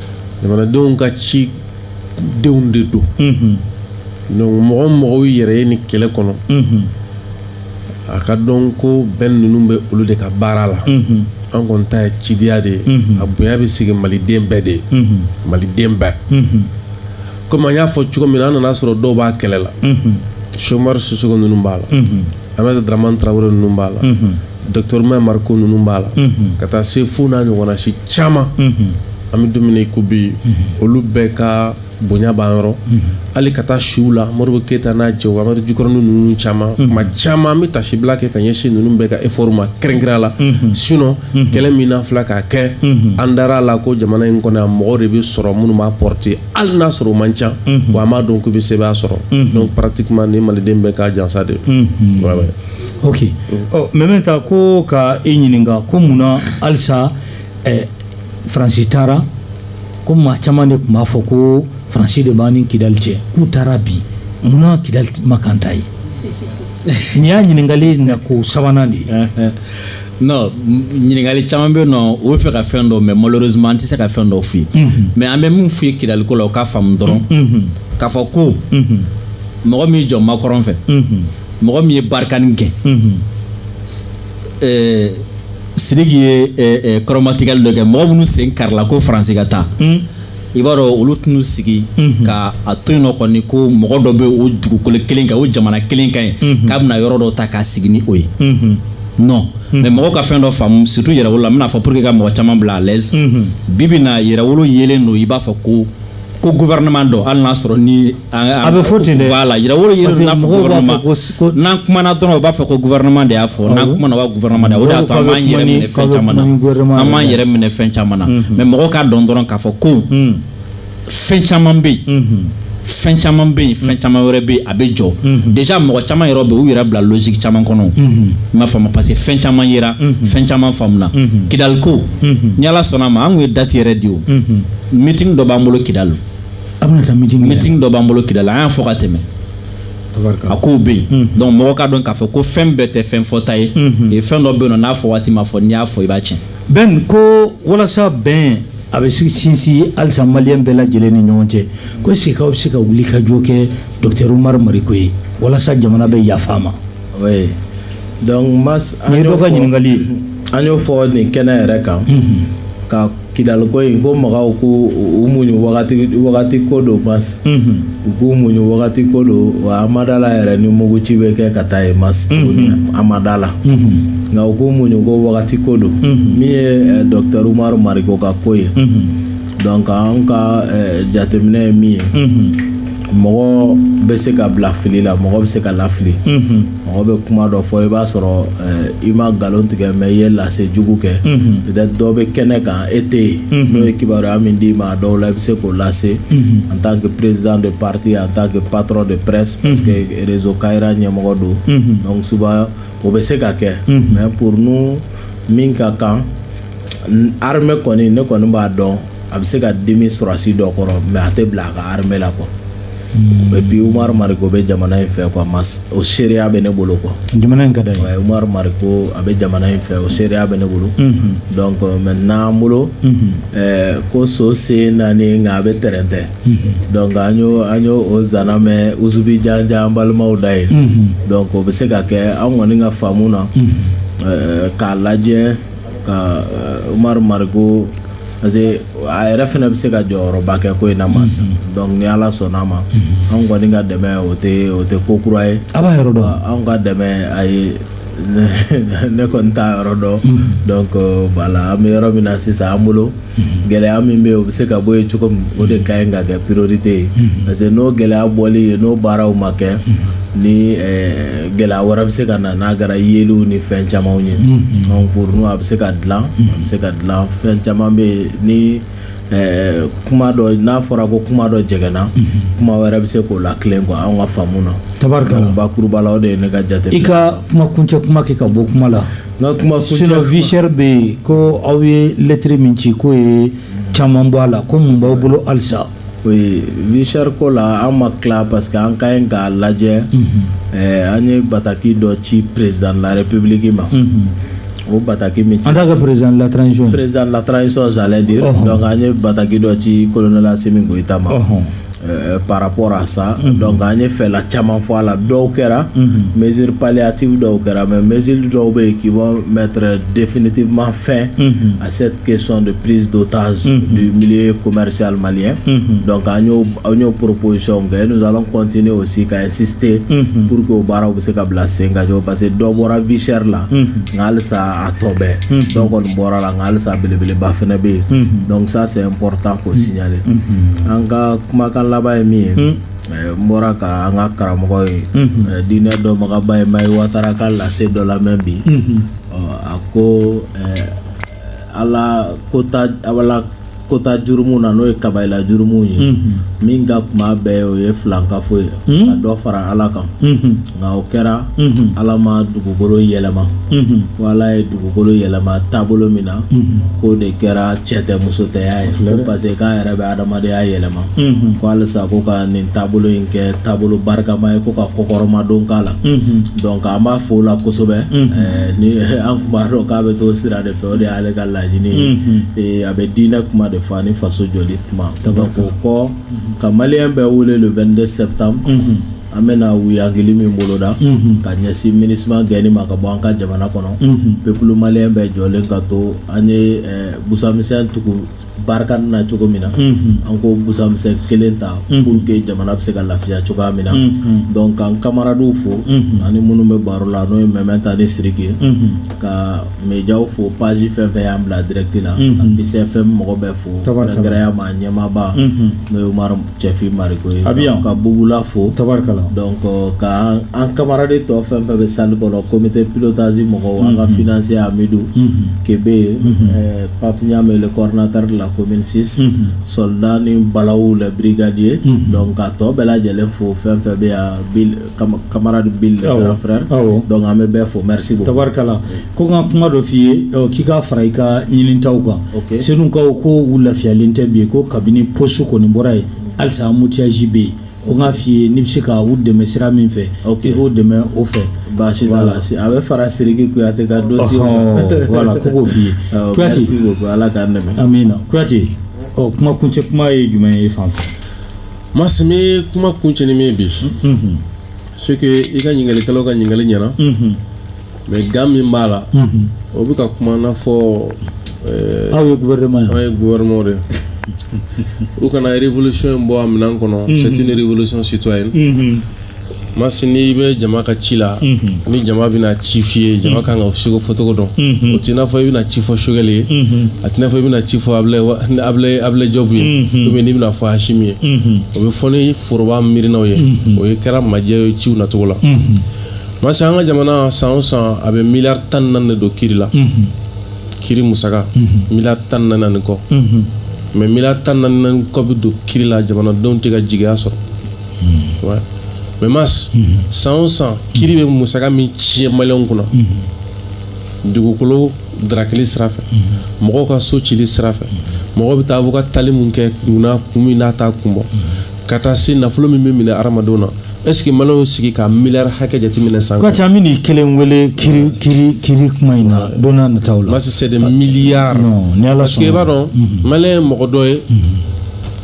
jamanadenw ka cidenw de don donc mɔgɔ o mɔgɔ yɛrɛ ye nin kɛlɛ kɔnɔ a k'a dɔn ko bɛn ninnu bɛ olu de ka baara la an kɔni ta ye cidenya de ye a bonya bɛ sigi maliden bɛɛ de ye maliden bɛɛ komi an y'a fɔ cogo min na an nana sɔrɔ dɔw b'a kɛlɛ la Cheick Oumar Sissoko ninnu b'a la aminata daraman tarawele ninnu b'a la dɔkitɔri umaru mariko ninnu b'a la ka taa se fo n'a ɲɔgɔnna si caman an bɛ don min ko bi olu bɛɛ ka bonya b'an yɔrɔ hali ka taa siw la mori keyita n'a cɛ wari jukɔrɔ ninnu caman ma caman an bɛ taasibila kɛ ka ɲɛsin ninnu bɛɛ ka e fma kɛrɛnkɛrɛnnenya la sinon kɛlɛ min na filɛ ka kɛ an dara a la ko jamana in kɔnɔ a mɔgɔ de bɛ sɔrɔ minnu b'a porter hali n'a sɔrɔ o man ca wa a m'a dɔn k'u bɛ se sɔrɔ dɔn patima ni maliden bɛ k'a jansa de ok mais bɛ ta ko ka e ɲininka ko mun na halisa eh, faransi taara ko maa caman de tun b'a fɔ ko faransi de b'an ni kidali cɛ k'u taara bi mun na kidali ma kan ta ye nin y'a ɲininkali na ko sabanan de ye non ɲininkali caman bɛ yen non u bɛ fɛ ka fɛn dɔ mɛn malheureusement an tɛ se ka fɛn dɔ f'i ye mais an bɛ min f'i ye kidaliko la o k'a faamu dɔrɔn k'a fɔ ko mɔgɔ min jɔ makɔrɔn fɛ mɔgɔ min ye barikani gɛn sidiki ye kɔrɔmatigɛli dɔ kɛ mɔgɔ minnu sen karila ko faransi ka taa i b'a dɔn olu tɛn'u sigi ka a to yen non kɔni ko mɔgɔ dɔ bɛ o dugukolo kelen kan o jamana kelen kan ye k'a bɛna yɔrɔ dɔ ta k'a sigi ni o ye non mais mɔgɔw ka fɛn dɔ faamu surtout yɛrɛwolo la n bɛn'a fɔ pour que ka mɔgɔ caman bila à l'aise bi bi na yɛrɛwolo yelen don i b'a fɔ ko ko gouvernement dɔ hali n'a sɔrɔ ni a bɛ fɔ ten dɛ voilà yirawolo yiri n'a gouvernement n'an kumana dɔrɔn u b'a fɔ ko gouvernement de y'a fɔ n'an kumana wa gouvernement de o de y'a to an b'an yɛrɛ minɛ fɛn caman na an b'an yɛrɛ minɛ fɛn caman na mais mɔgɔw k'a dɔn dɔrɔn k'a fɔ ko fɛn caman bɛ yen fɛn caman bɛ yen fɛn caman wɛrɛ bɛ yen a bɛ jɔ déjà mɔgɔ caman yɛrɛ bɛ yen u yɛrɛ bila logique caman kɔnɔ n m'a faamu parce que fɛn caman yera fɛn caman faamuna kidaliko ni ala sɔnna a ma an tun ye dati yɛrɛ di o meeting dɔ b'an bolo kidali a bɛna taa meeting meeting dɔ b'an bolo kidali an y'a fɔ ka tɛmɛ a kow bɛ yen hmm. donc mɔgɔ k'a dɔn k'a fɔ ko fɛn bɛɛ tɛ fɛn fɔta ye hmm. fɛn dɔ bɛ yen nɔ n'a fɔ waati ma fɔ n'i y'a fɔ i b'a tiɲɛ bɛn ko walasa bɛn a bɛ sinsin halisa maliyɛn bɛɛ lajɛlen ni ɲɔgɔn cɛ ko est-ce que aw bɛ se ka wuli ka jɔ kɛ docteur umaru mariko ye walasa jamana bɛ yafa a ma oui donc mas an y'o fɔ an y'o fɔ nin kɛnɛ yɛrɛ kan ka kidaliko in ko mɔgɔw k'u muɲu wagati wagati ko don mas u k'u muɲu wagati ko don wa an ma da la yɛrɛ ni muguci bɛ kɛ ka taa yen mas tuguni an ma da la nka u k'u muɲu ko wagati ko don min ye dɔkitɛri umaru mariko ka ko ye donc an ka eh, jateminɛ ye min ye mɔgɔ bɛ se ka bila fili la mɔgɔ bɛ se ka lafili mɔgɔ bɛ kuma dɔ fɔ i b'a sɔrɔ eh, i ma nkalon tigɛ mais i ye lase jugu kɛ mhm. peut-être dɔ bɛ kɛnɛ kan e tɛ yen mhm. n'o ye kibaruya min d'i ma a dɔw la i bɛ se k'o lase mhm. en tant que président de parti en tant que patron de presse parce que réseau Kayira ɲɛmɔgɔ don donc souvent o bɛ se ka kɛ mais pour nous min ka kan armée kɔni ne kɔni b'a dɔn a bɛ se ka dimi sɔrɔdasi dɔ kɔrɔ mais a tɛ bila a ka armée la quoi et puis umaru mariko bɛ jamana in fɛ quoi o seereya bɛ ne bolo ko umaru mariko a bɛ jamana in fɛ o seereya bɛ ne bolo donc maintenant an bolo ko so sen naani nka a bɛ tɛrɛntɛ donc an y'o nsana mɛn usubi jan an balimaw da ye o bɛ se ka kɛ an kɔni ka faamu na k'a lajɛ ka eh, umaru mariko parce que a yɛrɛ fɛnɛ bɛ se ka jɔyɔrɔba kɛ ko in na mas mhm. donc ni ala sɔnna a ma mhm. anw kɔni ka dɛmɛ o tɛ o tɛ ko kura ye a b'a yɔrɔ dɔn anw ka dɛmɛ a ye ne kɔni t'a yɔrɔ dɔn mhm. donc voilà an bɛ yɔrɔ min na sisan an bolo gɛlɛya min bɛ yen o bɛ se ka bɔ yen cogo min o de ka ɲi ka kɛ priorité ye parce que n'o gɛlɛya bɔli ye n'o baaraw ma kɛ ni eh, gɛlɛya wɛrɛ bɛ se ka na n'a kɛra yeliw ni fɛn camanw ye donc pour nous a bɛ se ka dilan a bɛ se ka dilan fɛn caman bɛ yen ni eh, kuma dɔ n'a fɔra ko kuma dɔ jɛgɛnna kuma wɛrɛ bɛ se k'o la tilen quoi anw ka faamu na tabarikala donc bakuruba la o de ye ne ka jate i ka kuma kuncɛ kuma kɛ ka bɔ kuma la Nka kuma vie chère bɛ yen ko aw ye lettre min ci k'o ye caman bɔ a la ko mun b'aw bolo halisa vie chère ko la an ma tila parce que an ka ɲi k'a lajɛ an ye bataki dɔ ci président de la République ma o bataki min an ka président la président de la transition de an ye bataki dɔ ci colonel Assimi Goïta ma Euh, par rapport à ça mm -hmm. donc an ye fɛla caman fɔ a la dɔw kɛra mm -hmm. mesure palliative dɔw kɛra mais mesure dɔw bɛ yen qui vont mettre définitivement fin mm -hmm. à cette question de prise d'otage mm -hmm. du milieu commercial malien mm -hmm. donc an y'o an y'o proposition kɛ nous allons continuer aussi ka insister mm -hmm. pour que o baaraw bɛ se ka bila sen kan parce que dɔ bɔra vie chère la nka halisa a tɔ bɛ yen dɔ kɔni bɔra a la halisa belebeleba fana bɛ yen mhm. donc ça c'est important k'o mhm. signaler mhm. an ka kumakan laban ye min ye eh, n bɔra ka an ka karamɔgɔ ye eh, diinɛ dɔnbagaba ye Mahi Watara ka lase dɔ lamɛn bi a ko eh, ala ko ta ala kota jurumu na n'o ye kabayila jurumu ye mhm. min ka kuma bɛɛ o ye filankafo ye mhm. ka dɔ fara ala kan mhm. nka o kɛra ala ma dugukolo yɛlɛma ko ala ye dugukolo yɛlɛma taabolo min na k'o de kɛra cɛ tɛ muso tɛya ye ko parce que k'a yɛrɛ bɛ adamadenya yɛlɛma ko halisa ko ka nin taabolo in kɛ taabolo barikama ye ko ka kɔkɔrɔmadon k'a la donc an b'a fo o la kosɛbɛ eh, ni an tun b'a dɔn k'a bɛ t'o sira de fɛ o de y'ale ka laɲini ye mm-hmm. eh, a bɛ diinɛ kuma de fɔ ani faso jɔli kuma donc o kɔ mm-hmm. ka maliyɛn bɛɛ wele le 22 septembre mm-hmm. an bɛna wuyangili min boloda ka ɲɛsin MINUSMA gɛnni ma ka bɔ an ka jamana kɔnɔ pepulu maliyɛn bɛɛ jɔlen ka to an ye eh, busamisɛn tugu Barkhane na cogo min na mhm. an k'o busamisɛn kelen ta mhm. pour que jamana bɛ se ka lafiya cogoya min na mhm. donc k'an kamaradiw fo ani minnu bɛ baro la n'o ye Aminata ni siriki ye ka mediyaw fo page fɛn fɛn y'an bila direct la ka Peace FM mɔgɔ bɛɛ fo gɛrɛya ma ɲɛmaba n'o ye mari cɛfin mariko ye a bɛ ka bugula fo tarikala ka an kamaradi tɔ fɛn fɛn bɛ salle kɔnɔ comité pilotage mɔgɔw an ka financier Amidu Kebe papiy'a mɛn coordinateur de la commune 6 soldat ni balaw la brigadier k'a tɔ bɛɛ lajɛlen fo fɛn fɛn bɛ yan kamaradi frère donc an bɛ bɛɛ fo tarikala ko ka kuma dɔ f'i ye k'i k'a fara i ka ɲininta kan Senukaw ko u lafiyalen tɛ bi yen ko kabini poste kɔni bɔra yen halisa an mutiyasi bɛ yen o k'a f'i ye n'i bɛ se ka u dɛmɛ sira min fɛ k'i k'u dɛmɛ o fɛ baasi a bɛ fara siriki kuyate ka don wala ko k'o f'i ye ala k'an dɛmɛ amiina kuyate ɔ kuma kuncɛ kuma ye jumɛn ye i fan fɛ masi n bɛ kuma kuncɛ ni min ye bi c'est que i ka ɲininkalikɛlaw ka ɲininkali ɲɛna mais gan min b'a la o bɛ ka kuma n'a fɔ aw ye gouvernement ye aw ye gouvernement de u kana révolution in bɔ a minɛn kɔnɔ c'est une révolution citoyenne masi n'i bɛ jama ka ci la ni jama bɛna ci f'i ye jama ka kan ka ciko fɔcogo dɔn o t'i n'a fɔ i bɛna ci fɔ sogɛli ye a t'i n'a fɔ i bɛna ci fɔ abulɛ jɔbu ye ou bien n'i bɛna fɔ asimi ye o bɛ fɔ ni foroba miirinaw ye o ye kɛra majɛ ye ciw nacogo la masi an ka jamana san o san a bɛ miliyari tan ni naani de don kiri la kiri musaka miliyari tan ni naani kɔ mais miliyari tan ni naani kɔ bɛ don kiri la jamanadenw tɛ ka jigiya sɔrɔ hmm. mais mas hmm. san o san kiri bɛ musaka min tiɲɛ maliyɛnw kunna dugukolo darakili sira fɛ mɔgɔw ka so cili sira fɛ mɔgɔw bɛ taa fo ka tali min kɛ kun na kun min n'a t'a kun bɔ ka taa se nafolo min bɛ minɛ hadamadenw na est-ce que maliyɛnw sigi ka miliyari hakɛ jateminɛ san kura an bɛ nin kelen wele kiri kiri kiri kuma in na don n'a nataw la. masi c'est des milliards. ni ala sɔnna parce que i b'a dɔn maliyɛn ye mɔgɔ dɔ ye.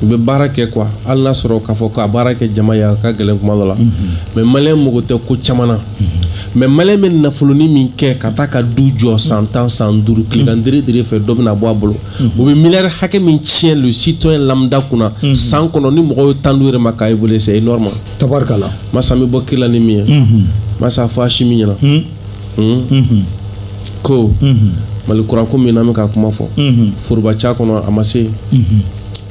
u bɛ baara kɛ quoi hali n'a sɔrɔ k'a fɔ k'a baara kɛ jama ye a ka gɛlɛn kuma dɔ la mhm. mais maliyɛn mako tɛ ko caman na mhm. mais maliyɛn bɛ nafoloni min kɛ ka taa ka du jɔ san tan san duuru mhm. kiri kan dere fɛ dɔ bɛna a bɔ a bolo u bɛ miliyari hakɛ min tiɲɛ le citoyen lambda kunna san kɔnɔ ni mɔgɔw ye tan duuru yɛrɛ ma k'a évaluer c'est énorme tabarikala mas an bɛ bɔ kiri la ni min ye mas a fɔ asimi ɲɛna hmm? ko mali kura ko min an bɛ ka kuma fɔ foroba ca kɔnɔ a ma se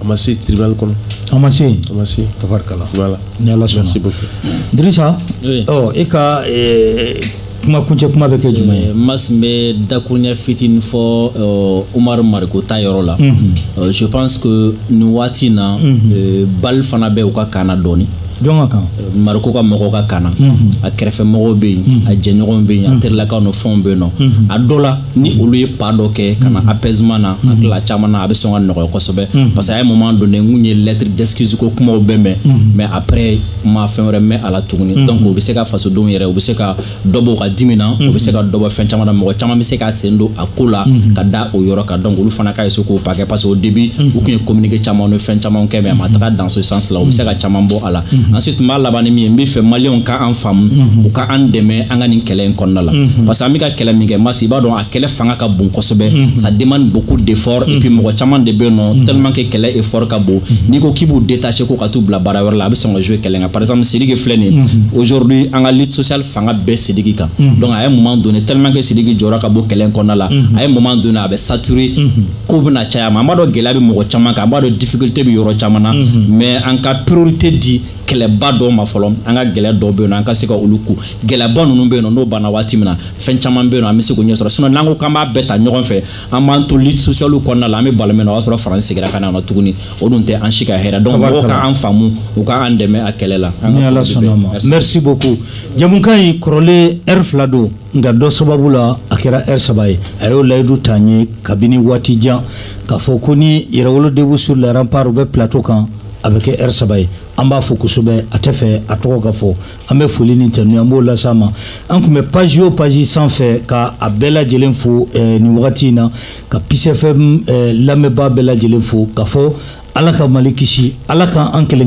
a ma se tribunal kɔnɔ a ma se a ma se tabarikala voilà ni ala sɔnna merci beaucoup dirisa ɔ e ka eh, kuma kuncɛ kuma bɛ kɛ jumɛn ye eh, mas n bɛ dakuruɲɛ fitinin fɔ eh, umaru mariko ta yɔrɔ la je pense que nin waati in na balle fana bɛ u ka camp na dɔɔnin jɔn ka camp mariko ka mɔgɔw ka camp na a kɛrɛfɛ mɔgɔw bɛ yen a jɛɲɔgɔnw bɛ yen a terilakaw ni fɛnw bɛ yen nɔ a dɔ la ni olu ye pas dɔ kɛ ka na apaisement na a tila caman na a bɛ sɔn ka nɔgɔya kosɛbɛ parce que à un moment donné n kun ye lettre d'excuse ko kumaw bɛɛ mɛn mais après n ma fɛn wɛrɛ mɛn a la tuguni donc u bɛ se ka fasodenw yɛrɛ u bɛ se ka dɔ b'o ka dimi na o bɛ se ka dɔ bɔ fɛn caman na mɔgɔ caman bɛ se ka sen don a ko la ka da o yɔrɔ kan donc olu fana ka essayer k'o pas kɛ parce que au début u tun ye communiqué caman ni fɛn caman kɛ mais a ma taga dans ce sens la u bɛ se ka caman bɔ a la ensuite n b'a laban ni min ye n b'a fɛ maliyɛnw ka an faamu u ka an dɛmɛ an ka nin kɛlɛ in kɔnɔna la parce que an bɛ ka kɛlɛ min kɛ mas i b'a dɔn a kɛlɛ fanga ka bon kosɛbɛ ça demande beaucoup d'effort et puis mɔgɔ caman de bɛ yen nɔ tellement que kɛlɛ effort ka bon n'i ko k'i b'u détacher ko ka t'u bila baara wɛrɛ la a bɛ sɔn ka jouer kɛlɛ kan par exemple sidiki filɛ nin mhm. aujourd'hui an ka lutte sociale fanga bɛɛ sidiki kan mhm. donc à un moment donné tellement que sidiki jɔra ka bɔ kɛlɛ kɔnɔna la mhm. à un moment donné a bɛ saturer ko bɛna caya ma an b'a dɔn gɛlɛya bɛ mɔgɔ caman kan an b'a dɔn difficulté bɛ yɔrɔ caman na mais an ka priorité di kɛlɛba dɔw ma fɔlɔ an ka gɛlɛya dɔw bɛ yen nɔ an ka se ka olu ko gɛlɛyaba ninnu bɛ yen nɔ n'o banna waati min na fɛn caman bɛ yen nɔ an bɛ se k'o ɲɛ sɔrɔ sinon n'an ko k'an b'a bɛɛ ta ɲɔgɔn fɛ an b'an to lutte sociale kɔnɔna la an bɛ balo min na o y'a sɔrɔ faransi segira ka na yan nɔ tuguni o dun tɛ an si ka hɛrɛ donc mɔgɔw ka an faamu u ka an dɛmɛ a kɛlɛ la ni ala sɔnna ma merci beaucoup jɛmukan in kɔrɔlen ɛri fila don nka dɔ sababu la a kɛra ɛri saba ye a y'o layidu ta n ye kabini waati jan k'a fɔ ko ni yɛrɛwolo debout sur les remparts u bɛ plateau kan a bɛ kɛ ɛri saba ye an b'a fo kosɛbɛ a tɛ fɛ a tɔgɔ ka fɔ an bɛ foli ni tanu an b'o lase a ma an tun bɛ page o page sanfɛ ka a bɛɛ lajɛlen fo eh, nin wagati in na ka peace fm lamɛnbaa bɛɛ lajɛlen fo k'a fɔ ala ka mali kisi ala ka an kelen